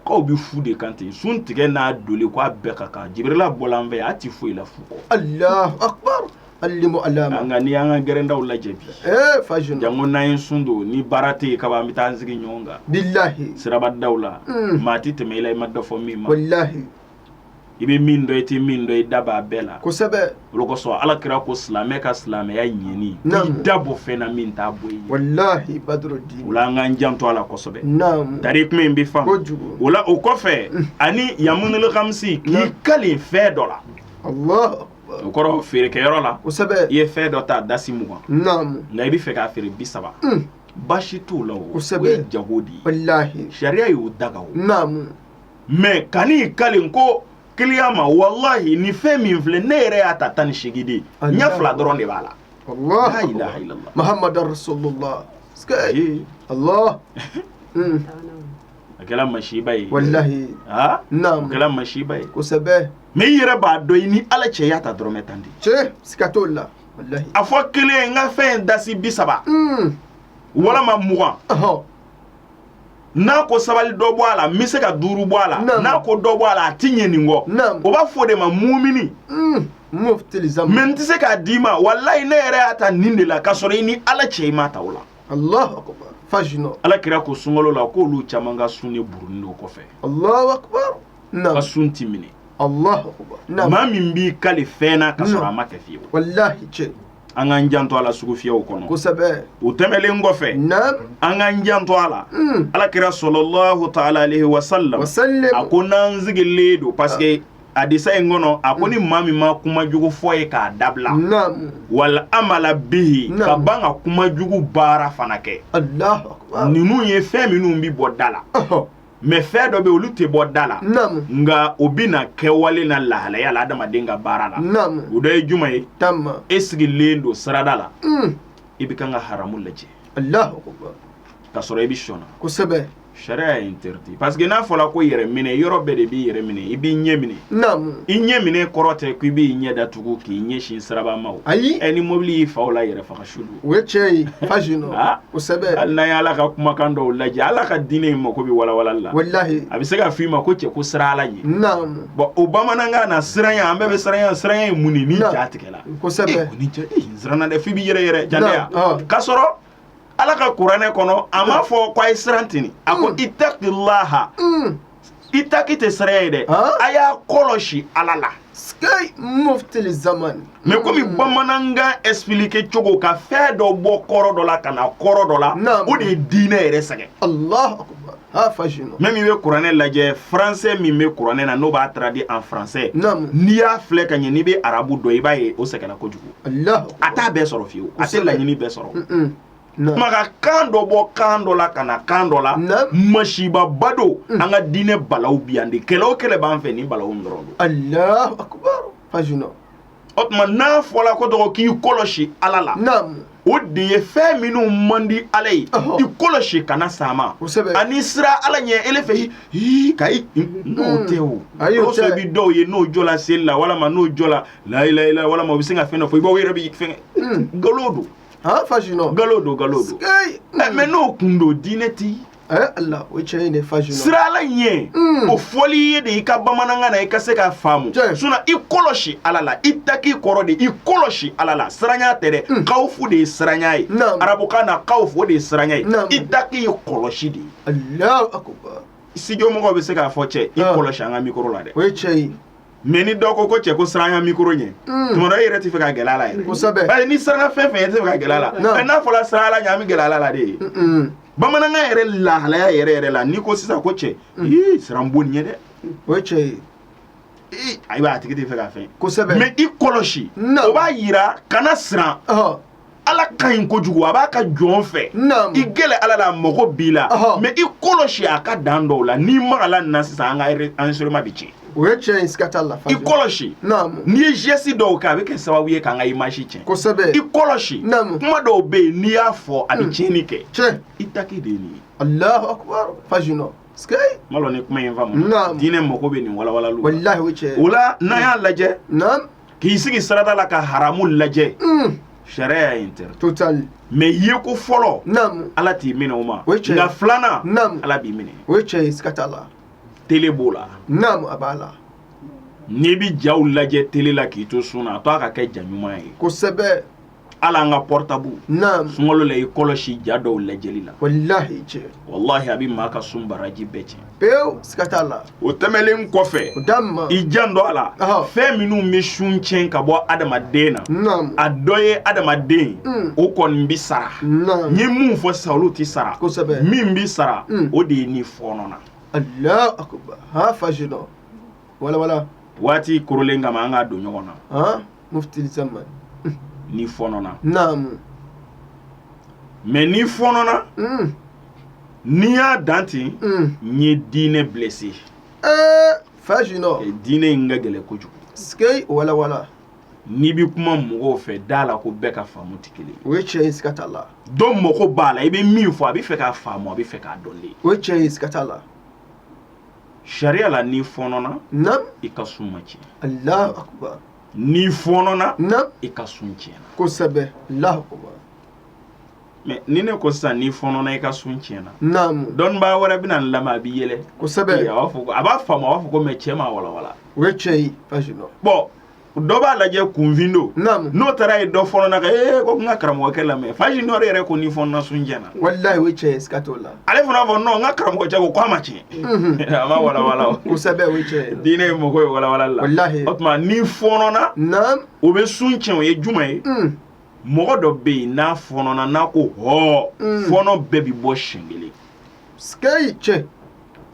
k'aw bɛ fu de kan ten sun tigɛ n'a doli ko a bɛɛ ka kan jibirila bɔla n fɛ yan a ti foyi la fu kɔ allah akbar alimu alama nka n'i y'an ka gɛrɛndaw lajɛ bi ee fa jeune janko n'an ye sun don ni baara tɛ yen kaban an bɛ taa an sigi ɲɔgɔn kan bilahi sirabadaw la maa ti tɛmɛ i la i ma dɔ fɔ min ma walahi i bɛ min dɔn i tɛ min dɔn i da b'a bɛɛ la kosɛbɛ o de kosɔn ala kira ko silamɛ ka silamɛya ɲɛni i da bɔ fɛn na min t'a bɔ yen walahi badru di o la an k'an janto a la kosɛbɛ naam tari kuma in bɛ faamu kojugu o la o kɔfɛ ani yamunul khamisi k'i kalen fɛn dɔ la allah o kɔrɔ feerekɛyɔrɔ la kosɛbɛ i ye fɛn dɔ ta dasi mugan naam nka i bɛ fɛ k'a feere bi saba Mm. baasi t'o la o o Kosɛbɛ. ye jago de ye walahi sariya y'o daga o naam mais kan'i kalen ko kiliyan ma walahi nin fɛn min filɛ ne yɛrɛ y'a ta tan ni seegin de ɲɛ fila dɔrɔn de b'a la mahamadu rasulullah allah hmm. a kɛra masiba ye walahi a kɛra masiba ye kosɛbɛ mais i yɛrɛ b'a dɔn i ni ala cɛ i y'a ta dɔrɔmɛ tan de cɛ siga t'o la walahi a fɔ kelen n ka fɛn dasi bi saba hmm. walama mugan n'a ko sabali dɔ bɔ a la n bɛ se ka duuru bɔ a la n'a ko dɔ bɔ a la a ti ɲɛ nin kɔ o b'a fɔ o de ma mumini hmm, mɛ n tɛ se k'a d'i ma walayi ne yɛrɛ y'a ta nin de la k'a sɔrɔ i ni ala cɛ i m'a ta o la ala kira ko sunkalo la k'olu caman ka sun de buruni don kɔfɛ ka sun ti minɛ maa min b'i kale fɛn na ka sɔrɔ a ma kɛ fiyewu an k'an janto a la sugufiyaw kɔnɔ kosɛbɛ o tɛmɛlen kɔfɛ naam an k'an janto a la mm. alakira sɔlɔlɔhu taala alehi wasalam a ko n'an sigilen don parce que hadisa in kɔnɔ a ko ni mm. maa min ma kuma jugu fɔ ye k'a dabila naam wala amala bihi ka ban ka kuma jugu baara fana kɛ ninnu ye fɛn minnu bi bɔ da la mɛ fɛn dɔ bɛ olu tɛ bɔ da la nka o bɛ na kɛwale na lahalaya la adamaden ka baara la o dɔ ye jumɛn ye e sigilen don sirada la mm. i bɛ kan ka haramu lajɛ ka sɔrɔ i bɛ sun na kosɛbɛ sariya y'a interdit parce que n'a fɔla ko yɛrɛ minɛ i yɔrɔ bɛɛ de b'i yɛrɛ minɛ i b'i ɲɛ minɛ i ɲɛ minɛ kɔrɔ tɛ ko i b'i ɲɛ datugu k'i ɲɛsin siraba ma o ayi ɛ ni mobili y'i fa o la yɛrɛ faga u ye cɛ ye fazu nɔ aa o sɛbɛ hali n'a ye ala ka kumakan dɔw lajɛ ala ka diinɛ in mako bɛ walawalali la walilahi a bɛ se ka f'i ma ko cɛ ko siran ala ɲɛ naamu bɔn o bamanankan na siranya an bɛɛ bɛ siranya siranya ye mun ye n'i Na. ja tigɛla kosɛbɛ ni cɛ ee, siranna dɛ f'i bi yɛrɛyɛrɛ jatɛya Na, ɔ. k'a sɔrɔ ala ka kuranɛ kɔnɔ a m'a fɔ ko a ye siran tini a ko Mm. itakilaha Mm, itaki tɛ siranya ye dɛ a y'a kɔlɔsi ala la mɛ komi bamanankan espilike cogo ka fɛn dɔ bɔ kɔrɔ dɔ la ka na kɔrɔ dɔ la o de ye diinɛ yɛrɛ sɛgɛn mɛmu i bɛ kuranɛ lajɛ français min bɛ kuranɛ na n'o b'a traduire en français n'i y'a filɛ ka ɲɛ n'i bɛ arabu dɔn i b'a ye o sɛgɛnna kojugu a t'a bɛɛ sɔrɔ fiyewu a tɛ laɲini bɛɛ sɔrɔ maa ka kan dɔ bɔ kan dɔ la ka na kan dɔ la masibaba don mm. an ka diinɛ balawu bi yan de kɛlɛ o kɛlɛ b'an fɛ nin balawu dɔrɔn don alahu akubar fajuna o tuma n'a fɔla ko dɔgɔ k'i kɔlɔsi ala la o de ye fɛn minnu man di ala ye i kɔlɔsi kana sama ani siran ala ɲɛ ele fɛ hii ka i n'o mm. tɛ o o sɔrɔ i bi dɔw ye n'o jɔla seli la walama n'o jɔla layilayila walama o bɛ sin ka fɛn dɔ fɔ i b'aw yɛrɛ bi fɛn mm. nkalon don han fajinɔ nkalon don nkalon don ee ɛ mɛ n'o kun don diinɛ ti ɛ ala o ye tiɲɛ ye dɛ fajinɔ siran ala ɲɛ Mm. o fɔli ye de i ka bamanankan na i ka se k'a faamu Tiɲɛ. sinɔn i kɔlɔsi ala la itaki kɔrɔ de i kɔlɔsi ala la siranya tɛ dɛ kawufu de ye siranya ye Mm. Naam. arabukan na kawufu o de ye siranya ye Naam. itaki ye kɔlɔsi de ye alahu akubar studio mɔgɔw bɛ se k'a fɔ cɛ i Ah. kɔlɔsi an ka mikoro la dɛ o ye tiɲɛ ye mais ni dɔw ko ko cɛ ko siranya mikoro ɲɛ mm. tuma dɔ e yɛrɛ tɛ fɛ ka gɛrɛ a la yɛrɛ kosɛbɛ parce que n'i siranna fɛn fɛn e tɛ fɛ ka gɛrɛ a la mais n'a fɔra siran ala ɲɛ an bɛ gɛrɛ ala la de ye bamanankan yɛrɛ lahalaya yɛrɛ yɛrɛ la n'i ko sisan ko cɛ mm. ii siran bon ɲɛ dɛ o ye tiɲɛ ye ee ayiwa a tigi tɛ fɛ ka fɛn kosɛbɛ mais i kɔlɔsi o b'a yira kana siran ala ka ɲi kojugu a b'a ka jɔn fɛ i gɛrɛ ala la mago b'i la mais i kɔlɔsi a ka dan dɔw la n'i magala na sisan an ka an soma bɛ tiɲɛ o ye tiɲɛ ye siga t'a la i kɔlɔsi n'i ye geste dɔw kɛ a bɛ kɛ sababu ye k'an ka image tiɲɛ kosɛbɛ i kɔlɔsi kuma dɔw bɛ yen n'i y'a fɔ a bɛ hmm. tiɲɛni kɛ tiɲɛ i taki de ye nin ye alahu akubar fajinɔ ma dɔn ni kuma in faamu diinɛ mago bɛ nin walawalaliw walahi o ye tiɲɛ ye o la n'an y'a lajɛ k'i sigi sirada la ka haramu lajɛ mm. sariya y'a interdit total mais yeko fɔlɔ naam ala t'i minɛ o ma nka filanan naam ala b'i minɛ o ye tiɲɛ ye siga t'a la tele b'o la naam a b'a la n'i bi jaw lajɛ tele la k'i to sun na a to a ka kɛ ja ɲuman ye kosɛbɛ ala an ka pɔrɔtabu sunkalo la i kɔlɔsi ja dɔw lajɛli la walahi cɛ walahi a bɛ maa ka sun baraji bɛɛ tiɲɛ pewu siga t'a la o tɛmɛlen kɔfɛ o da i janto a la fɛn minnu bɛ sun tiɲɛ ka bɔ adamaden na a dɔ ye adamaden hmm. o kɔni bɛ sara n ye mun fɔ sa olu tɛ sara kosɛbɛ min bɛ sara hmm. o de ye n'i fɔɔnɔna Allahu akubar ha fajinɔ walawala waati korolen kama an k'a don ɲɔgɔn na mufti samad n'i fɔnɔna naamu mais n'i fɔnɔna mm. n'i y'a dan ten mm. n ye diinɛ blessé ee eh, fajinɔ diinɛ in ka gɛlɛ kojugu sikei walawala n'i bɛ kuma mɔgɔw fɛ da la ko bɛɛ ka faamu tɛ kelen o ye tiɲɛ ye siga t'a la dɔw mako b'a la i bɛ min fɔ a bɛ fɛ k'a faamu a bɛ fɛ k'a dɔn de o ye tiɲɛ ye siga t'a la sariya la n'i fɔnɔna naam i ka sun ma tiɲɛ alahu akubar n'i fɔɔnɔna, naamu, i ka sun tiɲɛna, kosɛbɛ, Alahu akbar mais ni ne ko sisan n'i fɔɔnɔna i ka sun tiɲɛna, naamu, dɔnnibaa wɛrɛ bɛna n lamɛn a bɛ yɛlɛ, kosɛbɛ, a b'a fɔ a b'a faamu a b'a fɔ ko mais cɛ m'a walawala, o ye tiɲɛ ye, bon dɔ b'a lajɛ kunfin don, naamu, n'o taara ye dɔ fɔɔnɔna ka ee ko n ka karamɔgɔkɛ lamɛn, Fajinɔ yɛrɛ ko n'i fɔɔnɔna sun tiɲɛna, walahi o ye tiɲɛ ye siga t'o la. ale fana fɔ non n ka karamɔgɔcɛ ko a ma tiɲɛ a ma walawala kosɛbɛ o cɛ diinɛ in mago bɛ walawala la walahi o tuma n'i fɔnɔna naam o bɛ sun tiɲɛ o ye jumɛn ye mm. mɔgɔ dɔ bɛ yen n'a fɔnɔna n'a ko hɔɔ mm. fɔnɔ bɛɛ bɛ bɔ siɲɛ kelen sikɛyi cɛ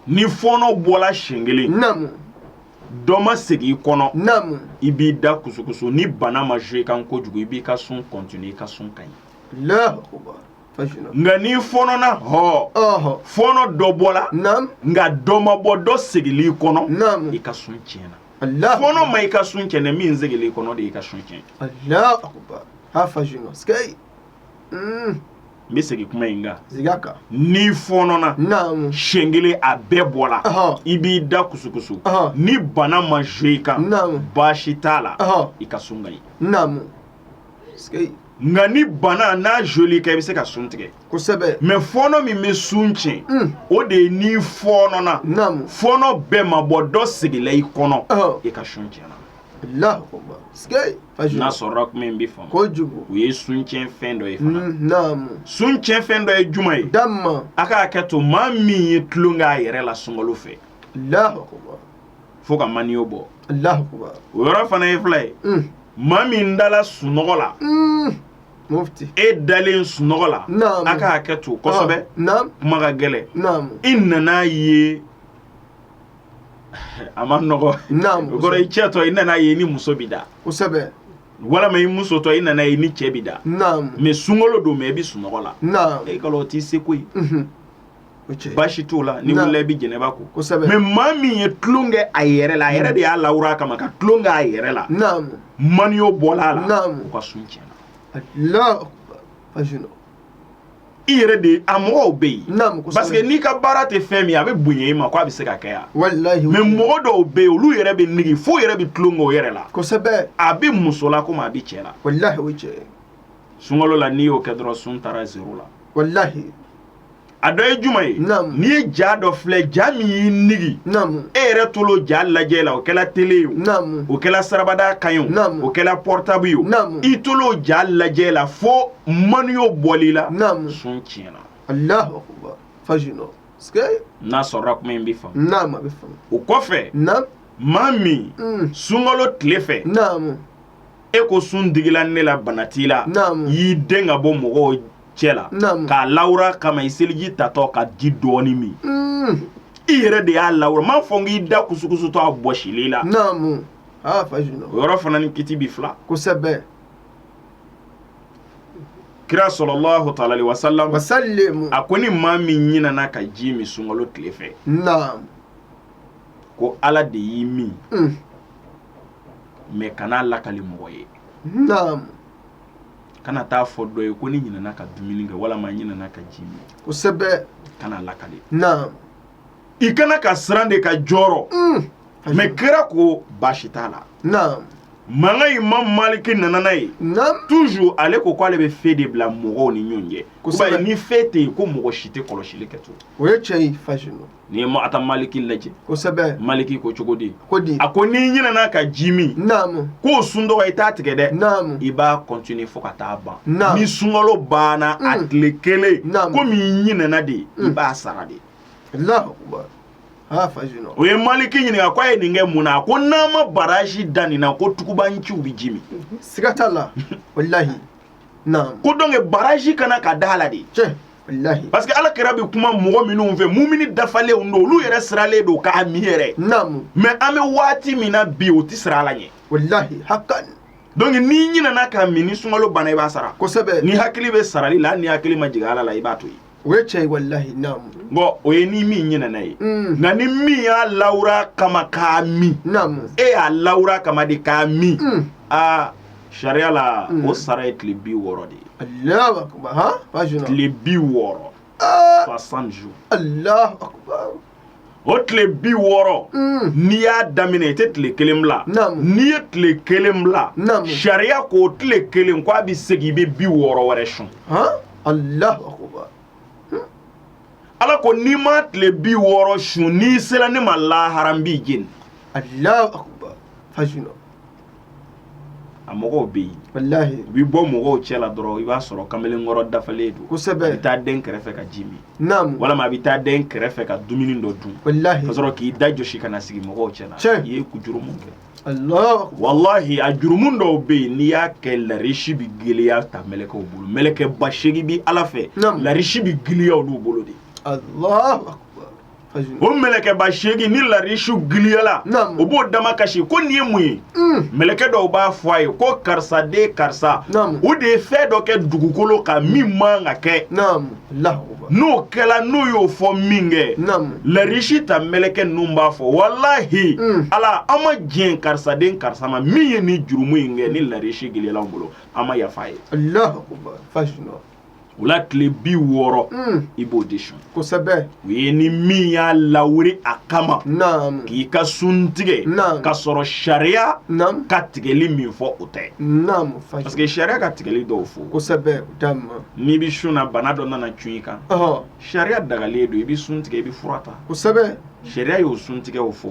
ni fɔnɔ bɔla siɲɛ kelen naam dɔ ma segin i kɔnɔ naam i b'i da kusukusu ni bana ma jouer kan kojugu i b'i ka sun continuer i ka sun ka ɲi. nka n'i fɔnɔna hɔ fɔnɔ dɔ bɔla nka dɔ ma bɔ dɔ segil'i kɔnɔ i ka sun tiɲɛna fɔnɔ ma i ka sun tiɲɛ dɛ min segil'i kɔnɔ de y'i ka sun tiɲɛ n bɛ segin kuma in kan n'i fɔnɔna siɲɛ kelen a bɛɛ bɔla i b'i da kusukusu ni bana ma jɔ i kan baasi t'a la i ka sun ka ɲi nka ni bana n'a jɔl'i kan i bɛ se ka sun tigɛ kosɛbɛ mɛ fɔɔnɔ min bɛ sun tiɲɛ hmm. o de ye n'i fɔɔnɔna fɔɔnɔ bɛɛ ma bɔ dɔ segila i kɔnɔ i ka sun tiɲɛna n'a sɔrɔla kuma in bɛ faamu kojugu o ye sun tiɲɛ fɛn dɔ ye fana hmm, sun tiɲɛ fɛn dɔ ye juman ye a ka hakɛ to maa min ye tulon kɛ a yɛrɛ la sunkalo fɛ fo ka maniyo bɔ o yɔrɔ fana ye fila ye mm. maa min dala sunɔgɔ la mm. e dalen sunɔgɔ la a ka hakɛ to kosɛbɛ ah, kuma ka gɛlɛn i nana ye a man nɔgɔn o kɔrɔ i cɛtɔ i nana ye i ni muso b'i da kosɛbɛ walama i musotɔ i nana ye i ni cɛ b'i da mɛ sunkalo don mɛ i bi sunɔgɔ la e kalo o t'i seko ye mhm. baasi t'o la n'i wulila i bɛ jɛnɛba ko mɛ maa min ye tulon kɛ a yɛrɛ la a yɛrɛ de y'a lawura kama ka tulon kɛ a yɛrɛ la maniyo bɔla a la o ka sun tiɲɛna i yɛrɛ de a mɔgɔw bɛ yen parce que n'i ka baara tɛ fɛn min a bɛ bonya i ma ko a bɛ se ka kɛ yan mɛ mɔgɔ dɔw bɛ yen olu yɛrɛ bɛ nege fo yɛrɛ bɛ tulon kɛ o yɛrɛ la kosɛbɛ a bɛ muso la komi a bɛ cɛ la sunkalo la n'i y'o kɛ dɔrɔn sun taara zero la a dɔ ye juman ye n'i ye ja dɔ filɛ ja min y'i nege e yɛrɛ tol'o ja lajɛ la o kɛla tele ye o kɛla siraba da kan ye o kɛla pɔrɔtabu ye i tol'o ja lajɛ la fo maniyo bɔl'i la sun tiɲɛna n'a sɔrɔla kuma in bɛ faamu o kɔfɛ maa min mm. sunkalo tile fɛ e ko sun digila ne la bana t'i la y'i dɛn ka bɔ mɔgɔw cɛ la k'a lawura kama i seliji tatɔ ka ji dɔɔni min mm. i yɛrɛ de y'a lawura m'a fɔ n k'i da kusukusutɔ a bɔsil'i la ah, o yɔrɔ fana ni kiti bi fila kosɛbɛ kira salalahu taala aleyihi wa salam a ko ni maa min ɲinana ka ji min sunkalo tile fɛ ko ala de y'i min mm. mɛ kan'a lakali mɔgɔ ye kana t'a fɔ dɔ ye ko ne ɲinana ka dumuni kɛ walama ɲinana ka ji min kosɛbɛ kana lakali naam i ka kan ka siran de ka jɔrɔ mm. mais kira ko baasi t'a la naam nka imam maliki nana na yen toujours ale ko k'ale bɛ feu de bila mɔgɔw ni ɲɔgɔn cɛ ni feu tɛ yen ko mɔgɔ si tɛ kɔlɔsili kɛ to o ye tiɲɛ ye fasino N'i ye muwata maliki lajɛ kosɛbɛ maliki ko cogo di ko di a ko n'i ɲinana ka ji min k'o sun donc i t'a tigɛ dɛ i b'a continuer fo ka taa ban ni sunkalo banna a tile kelen komi i ɲinana de ye i b'a sara de u ye maliki ɲininka ko a ye nin kɛ mun na a ko n'an ma barrage da nin na ko tugubaanciw bɛ ji min siga t'a la walahi ko donc barrage ka kan ka da a la de parce que ala kira bɛ kuma mɔgɔ minnu fɛ mumini dafalenw don olu yɛrɛ sirannen don k'a min yɛrɛ mais an bɛ waati min na bi u tɛ siran ala ɲɛ donc n'i ɲinana k'a min ni sunkalo banna i b'a sara kosɛbɛ n'i hakili bɛ sarali la hali n'i hakili ma jigin ala la i b'a to yen o ye tiɲɛ walilahi naam bon o ye ni min ɲinɛna ye mm. nka ni min y'a lawura kama k'a min naam e y'a lawura kama de k'a min mm. aa sariya la mm. o sara ye tile bi wɔɔrɔ de ye alahu akubar tile bi wɔɔrɔ 60 ah. jours alahu akubar o tile bi wɔɔrɔ n'i y'a daminɛ i tɛ tile kelen bila n'i ye tile kelen bila sariya k'o tile kelen ko a bɛ segin i bɛ bi wɔɔrɔ wɛrɛ sun ala ko n'i ma tile bi wɔɔrɔ sun n'i sera ne ma lahara n b'i jeni a mɔgɔw bɛ yen walahi u bɛ bɔ mɔgɔw cɛ la dɔrɔn i b'a sɔrɔ kamalenkɔrɔ dafalen don kosɛbɛ bɛ taa den kɛrɛfɛ ka ji min naamu walima a bɛ taa den kɛrɛfɛ ka dumuni dɔ dun walahi ka sɔrɔ k'i da jɔsi ka na sigi mɔgɔw cɛ la tiɲɛ i ye ko jurumu kɛ Allah walahi a jurumu dɔw bɛ yen n'i y'a kɛ larisi bɛ giliya a ta mɛlɛkɛw bolo mɛlɛkɛba seegin bɛ ala fɛ larisi bɛ giliya olu bolo de Allah o mɛlɛkɛba seegin ni larisi giliyala o b'o dama kasi ko nin ye mun ye mm. mɛlɛkɛ dɔw b'a fɔ a ye ko karisa den karisa o de ye fɛn dɔ kɛ dugukolo kan min man ka kɛ n'o kɛla n'u y'o fɔ minkɛ larisi ta mɛlɛkɛ ninnu b'a fɔ walahi mm. ala an ma diɲɛ karisa den karisa ma min ye nin jurumu in kɛ ni larisi giliyala an bolo an ma yafa a ye o la tile bi wɔɔrɔ i b'o de sun kosɛbɛ o ye ni min y'a lawuri a kama k'i ka sun tigɛ ka sɔrɔ sariya ka tigɛli min fɔ o tɛ parce que sariya ka tigɛli dɔw fɔ kosɛbɛ n'i bɛ sun na bana dɔ nana cun i kan sariya dagalen don i bɛ sun tigɛ i bɛ fura ta kosɛbɛ sariya y'o sun tigɛ o fɔ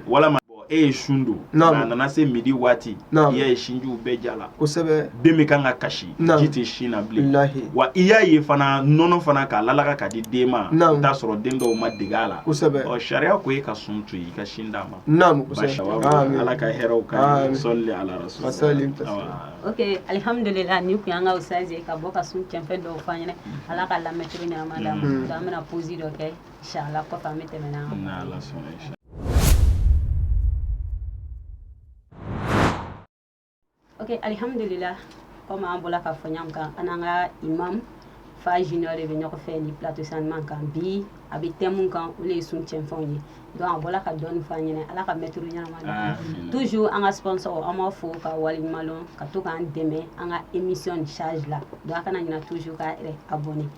walima e ye sun don a nana se midi waati i y'a ye sinjiw bɛɛ jala kosɛbɛ den bɛ kan ka kasi ji tɛ sin na bilen wa i y'a ye fana nɔnɔ fana k'a lalaga ka di den ma i t'a sɔrɔ den dɔw ma dege a la kosɛbɛ ɔ sariya ko e ka sun to yen i ka sin d'a ma naamu kosɛbɛ ala ka hɛrɛ k'an ye sɔli ala rasuli ok alihamudulila nin tun y'an ka ustaz ye ka bɔ ka sun cɛnfɛn dɔw f'an ɲɛna ala ka lamɛn cogo ɲanama d'an ma an bɛna pause dɔ kɛ Alihamdulila komi an bɔra k'a fɔ an n'an ka imam fa zi de bɛ ɲɔgɔn fɛ ni pto san ɲuman kan bi an bɛ thème min kan olu ye sun cɛnfɛnw ye donc a bɔra ka dɔw f'an ɲɛna ala ka mɛto ɲɛnama toujours an ka sɔsɔ an b'a fɔ ka waleɲuman ka to k'an dɛmɛ an ka émission ni saji la donc a kana ɲina toujours ka abonner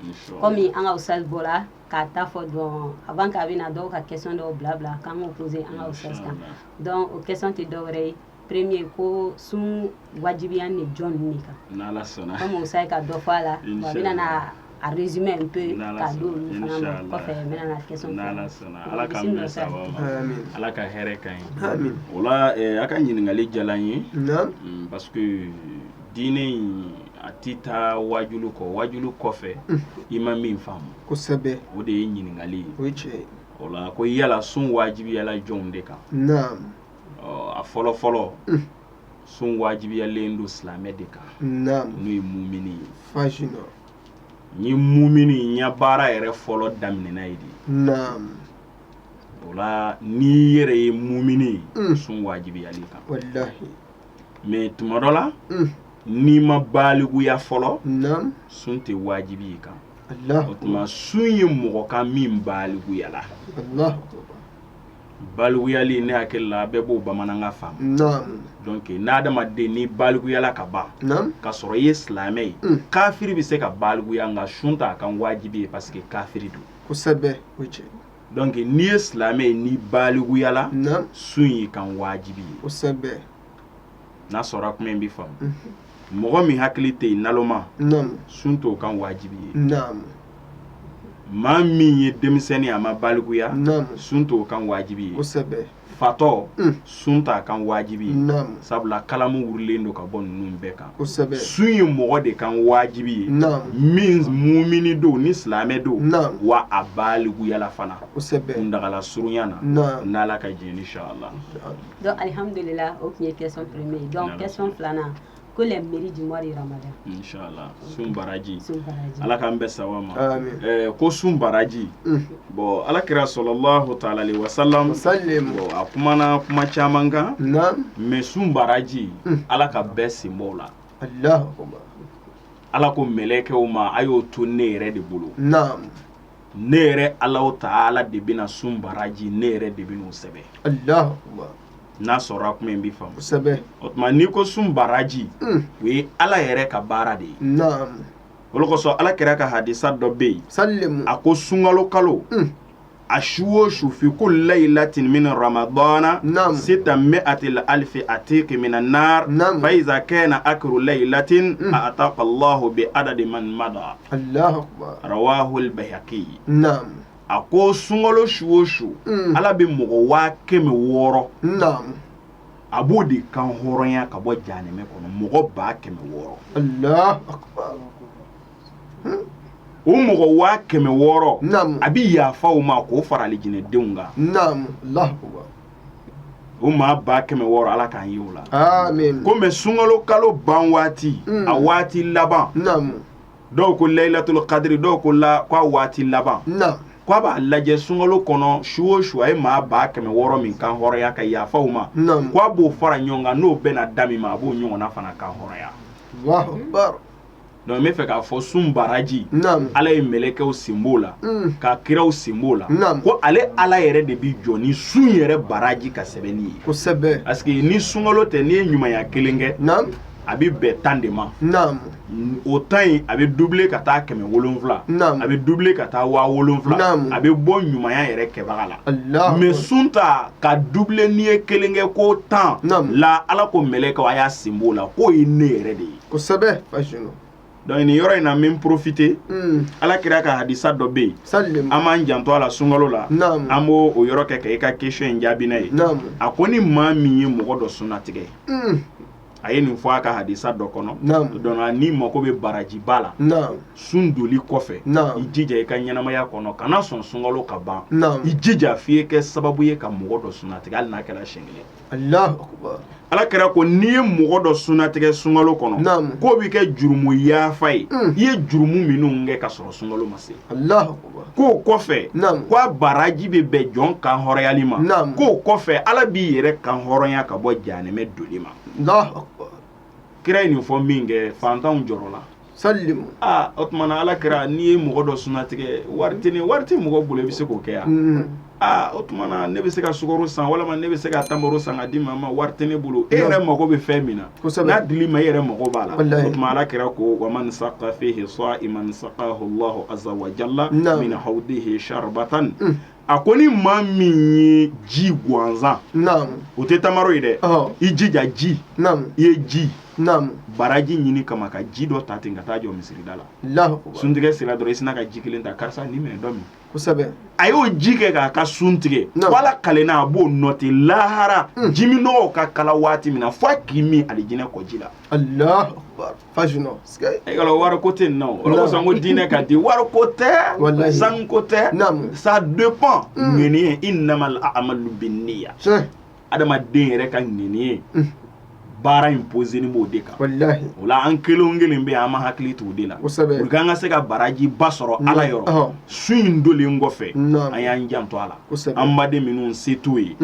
kɔmi an ka ustaz bɔra k'a ta fɔ donc avant k'a bɛna dɔw ka question dɔw bila bila k'an k'o poser an ka ustaz kan donc o question tɛ dɔwɛrɛ ye premier ko sun wajibiyalen jɔn ninnu de kan n'ala sɔnna comme ustaz ka dɔ fɔ a la w'a bɛna na a résumé un peu ka di olu fana ma kɔfɛ n bɛna na question n'ala sɔnna ala k'an bɛn sababu ma ala ka hɛrɛ k'an ye o la a ka ɲininkali diyara n ye parce que diinɛ in a tɛ taa wajulu kɔ wajulu kɔfɛ i ma min faamu kosɛbɛ o de ye ɲininkali ye o ye tiɲɛ ye o la ko yala sun wajibiyala jɔnw de kan naam ɔ a fɔlɔ fɔlɔ sun wajibiyalen don silamɛ de kan naam n'o ye mumini ye fasina nin ye muminiya baara yɛrɛ fɔlɔ daminɛna ye de naam o la n'i yɛrɛ ye mumini ye sun wajibiyal'i kan walahi mais tuma dɔ la n'i ma balikuya fɔlɔ naam sun tɛ wajibiy'i kan o tuma sun ye mɔgɔ kan min balikuyala balikuyali ne hakili la bɛɛ b'o bamanankan faamu naam donc n'adamaden ni balikuyala ka ban naam ka sɔrɔ i ye silamɛ ye mm. kafiri bɛ se ka balikuya nka sun t'a kan wajibi ye parce que kafiri don kosɛbɛ o ye tiɲɛ donc n'i ye silamɛ ye n'i balikuyala naam sun y'i kan wajibi ye kosɛbɛ n'a sɔrɔ kuma in bɛ faamu mhm. mɔgɔ min hakili tɛ yen naloma sun t'o kan wajibi ye maa min ye denmisɛnnin a ma balikuya sun t'o kan wajibi ye fatɔ mm. sun t'a kan wajibi ye sabula kalamu wulilen don ka bɔ ninnu bɛɛ kan sun ye mɔgɔ de kan wajibi ye min mumini don ni silamɛ don wa a balikuyala fana kuntagala surunya na n'ala ka jɛn ye inshallah Donc, alhamdulillah, ok, question première. Donc, question filanan. ko le mérite du mois de ramadan inchallah sun baraji ala k'an bɛɛ sawa ma eh, ko sun baraji mm. bon ala kira salalahu taala alayhi wasalam bon a kumana kuma caman kan mais sun baraji mm. ala ka bɛɛ sen b'o la ala ko mɛlɛkɛw ma a y'o to ne yɛrɛ de bolo ne yɛrɛ ala taala de bɛna sun baraji ne yɛrɛ de b'a sɛbɛn n'a sɔrɔ tun bɛ fa kosɛbɛ o tuma n'i ko sun baraji hmm. o ye ala yɛrɛ ka baara de ye osɔ ala kira ka hadisa dɔ bɛ yen sa a ko sunkalo kalo hmm. a su o su fi kulli layilatin min ramadan sittu miati alfi atiki minan nar fa iza kana akiru layilatin ataka lah bi adadi man mada a ko sunkalo su o su mm. ala bɛ mɔgɔ waa kɛmɛ wɔɔrɔ a b'o de kan hɔrɔnya ka bɔ janɛmɛ kɔnɔ mɔgɔ ba kɛmɛ wɔɔrɔ o mɔgɔ waa kɛmɛ wɔɔrɔ a bɛ yafa o ma k'o fara alijinɛdenw kan o maa ba kɛmɛ wɔɔrɔ ala k'an ye o la ko mais sunkalo kalo ban waati mm. a waati laban dɔw ko layilatulu kadiri dɔw ko la k'a waati laban k' a b'a lajɛ sunkalo kɔnɔ su o su a ye maa ba kɛmɛ wɔɔrɔ min kan hɔrɔnya ka yafa u ma k' a b'o fara ɲɔgɔn kan n'o bɛna da min ma a b'o ɲɔgɔnna fana kan hɔrɔnya donc bɛ fɛ k'a fɔ sun baraji ala ye mɛlɛkɛw sen b'o la ka kiraw sen b'o la ko ale ala yɛrɛ de bɛ jɔ ni sun yɛrɛ baraji ka sɛbɛnni ye parce que ni sunkalo tɛ n'i ye ɲumanya kelen kɛ a bɛ bɛn tan de ma o tan in a bɛ dubile ka taa kɛmɛ wolonwula a bɛ dubile ka taa waa wolonwula a bɛ bɔ ɲumanya yɛrɛ kɛbaga la mais sun ta ka dubile n'i ye kelen kɛ ko tan la ala ko mɛlɛkɛ a y'a sen b'o la k'o ye ne yɛrɛ de ye kosɛbɛ donc nin yɔrɔ in na n bɛ profiter ala kira ka hadisa dɔ bɛ yen an b'an janto a la sunkalo la an b'o o yɔrɔ kɛ ka e ka question jaabi n'a ye a ko ni maa min ye mɔgɔ dɔ sunatigɛ a ye nin fɔ a ka hadisa dɔ kɔnɔ donc n'i mako bɛ barajiba la sun doli kɔfɛ i jija i ka ɲɛnamaya kɔnɔ kana sɔn sunkalo ka ban i jija f'i ye kɛ sababu ye ka mɔgɔ dɔ sunatigɛ hali n'a kɛra siɲɛ kelen ala kira ko n'i ye mɔgɔ dɔ sunatigɛ sunkalo kɔnɔ k'o bɛ kɛ jurumu yafa ye i ye jurumu minnu kɛ ka sɔrɔ sunkalo ma se k'o kɔfɛ ko a baraji bɛ bɛn jɔn kan hɔrɔnyali ma k'o kɔfɛ ala b'i yɛrɛ kan hɔrɔnya ka bɔ janɛmɛ doli ma kira ye nin fɔ minkɛ fantanw jɔrɔla o tuma na ala kira n'i ye mɔgɔ dɔ sunatigɛ wari tɛ ni wari tɛ mɔgɔ bolo i bɛ se k'o kɛ yan aa o tuma na ne bɛ se ka sukaro san walima ne bɛ se ka tamaro san ka di maa ma wari tɛ ne bolo e yɛrɛ mago bɛ fɛn min na n'a dil'i ma e yɛrɛ mago b'a la o tuma ala kira ko wa man saqa fihi sa'iman saqahu Allahu azza wa jalla min hawdihi sharbatan a ko ni maa min ye ji gansan o tɛ tamaro ye dɛ i jija ji i ye ji baraji ɲini kama ka ji dɔ ta ten ka taa jɔ misirida la suntigɛ sera dɔrɔn i sina ka ji kelen ta karisa nin minɛ dɔ min a y'o ji kɛ k'a ka sun tigɛ ala kalenna a b'o noté lahara hmm. jiminnɔgɔ ka kalan waati min na fo a k'i min alijinɛ kɔji la e ka wari ko tɛ nɔ o kosɔn ko diinɛ ka di wari ko tɛ sanu ko tɛ ça dépend ŋaniya hmm. innamal a'malu binniya adamaden yɛrɛ ka ŋaniya baara in posénin b'o de kan o la an kelen kelen bɛɛ ye an ma hakili t'o de la u an ka se ka baraji ba sɔrɔ ala yɔrɔ sun in donlen kɔfɛ an y'an janto a la an baden minnu se t'u ye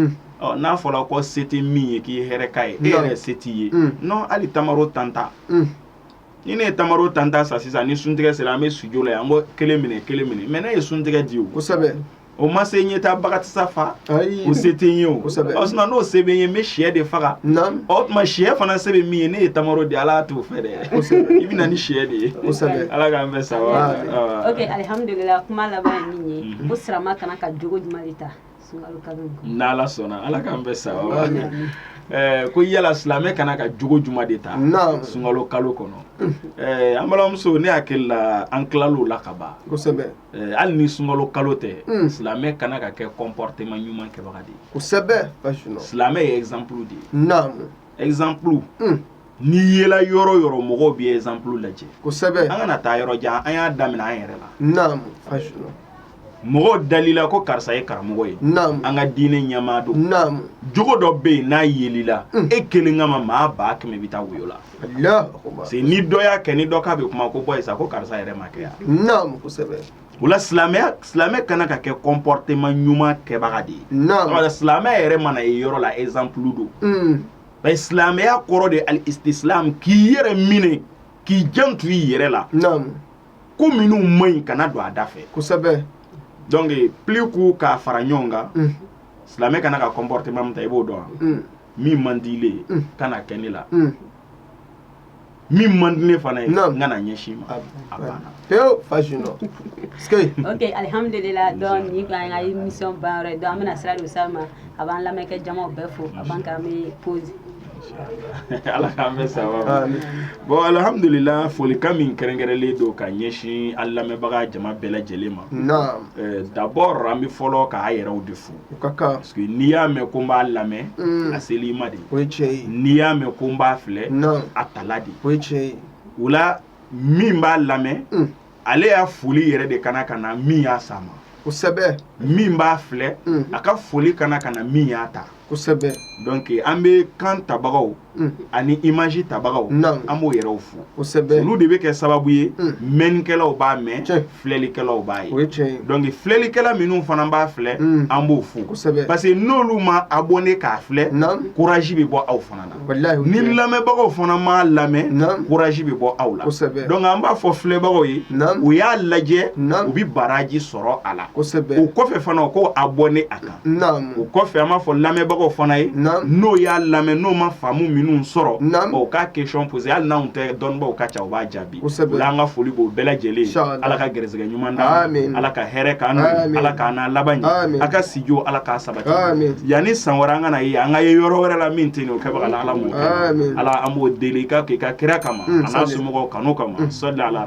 n'a fɔra ko se tɛ min ye k'i hɛrɛ ka ye e yɛrɛ se t'i ye n'o hali tamaro tan ta ni ne ye tamaro tan ta san sisan ni suntigɛ sera an bɛ sujla an ko kelen minɛ kelen minɛ mɛ ne ye suntigɛ di o O ma se ɲɛ taa bakarijansa fa o se tɛ n ye o n'o se bɛ n ye n bɛ shɛ de faga o tuma shɛ fana se bɛ min ye ne ye tamaro di ala t'o fɛ dɛ i bɛ na ni shɛ de ye ala k'an bɛ sa ala sɔnna ala k'an bɛ sa ko yala silamɛ kana ka jogo jumɛn de ta sunkalo kalo kɔnɔ an balimamuso ne hakili la an tilala o la ka ban Eh, hali ni sunkalo kalo tɛ hmm. silamɛ kana ka kɛ comportement ɲuman kɛbaga de ye kosɛbɛ silamɛ ye exemple de ye naam exemple hmm. n'i yela yɔrɔ yɔrɔ mɔgɔw b'i exemple lajɛ kosɛbɛ an kana taa yɔrɔ jan an y'a daminɛ an yɛrɛ la naam mɔgɔw dalila ko karisa ye karamɔgɔ ye naam an ka diinɛ ɲɛmaa don naam jogo dɔ bɛ yen n'a yelila hmm. e kelen kama maa ba kɛmɛ bɛ taa woyo la sini dɔ y'a kɛ ni dɔ k'a bɛ kuma ko bɔ yen sa ko karisa yɛrɛ m'a kɛ yan naamu kosɛbɛ o la silamɛya silamɛ kana ka kɛ comportement ɲuman kɛbaga de ye naamu silamɛ yɛrɛ mana ye yɔrɔ la exemple don mm. bari silamɛya kɔrɔ de al istislam k'i yɛrɛ minɛ k'i janto i yɛrɛ la naamu ko minnu man ɲi kana don a da fɛ kosɛbɛ donc plus k'u k'a fara ɲɔgɔn kan mm. silamɛ kana ka comportement min ta i b'o dɔn wa mm. min man di ile ye mm. kana kɛ ne la mm. min man di ne fana ye n kana ɲɛsin i ma a banna pewu fasi nɔ ok alihamudulila donc ni ko an ka émission ban yɔrɔ ye donc an bɛna sira don sa ma a b'an lamɛnkɛ jamaw bɛɛ fo a b'an k'an bɛ pause ala k'an bɛ saba bon alhamdulila folikan min kɛrɛnkɛrɛnlen don ka ɲɛsin an lamɛnbaga jama bɛɛ lajɛlen ma d'abord an bɛ fɔlɔ k'a yɛrɛw de fo o ka kan parce que n'i y'a mɛn ko n b'a lamɛn mm. a sela i ma de o ye tiɲɛ ye n'i y'a mɛn ko n b'a filɛ a tala de o ye tiɲɛ ye o la min b'a lamɛn mm. ale y'a foli yɛrɛ de kana ka na min y'a s'a ma kosɛbɛ min b'a filɛ mm. a ka foli kana ka na min y'a ta kosɛbɛ donc an bɛ kan tabagaw ani image tabagaw an b'o yɛrɛw fo olu de bɛ kɛ sababu ye mɛnnikɛlaw b'a mɛn filɛlikɛlaw b'a ye donc filɛlikɛla minnu fana b'a filɛ an b'o fo parce que n'olu ma abonner k'a filɛ courage bɛ bɔ aw fana la ni lamɛnbagaw fana m'a lamɛn courage bɛ bɔ aw la donc an b'a fɔ filɛbagaw ye u y'a lajɛ u bɛ baraji sɔrɔ a la o kɔfɛ fana ko abonner a kan o kɔfɛ an b'a fɔ lamɛnbagaw fana ye n'o y'a lamɛn n'o ma faamu minnu sɔrɔ o ka question poser hali n'an tɛ dɔnnibaw ka ca u b'a jaabi an ka foli b'o bɛɛ lajɛlen ala ka garisɛgɛ ɲuman ala ka hɛrɛ ka ala ka n'a laban a ka sij ala k'a sabati yanni san wɛrɛ an ka ye an ka ye yɔrɔ wɛrɛ la min ten o kɛbaa ala ala ala an b'o deli i ka kɛ i ka kira kama an'a somɔgɔw kanu kama sa ala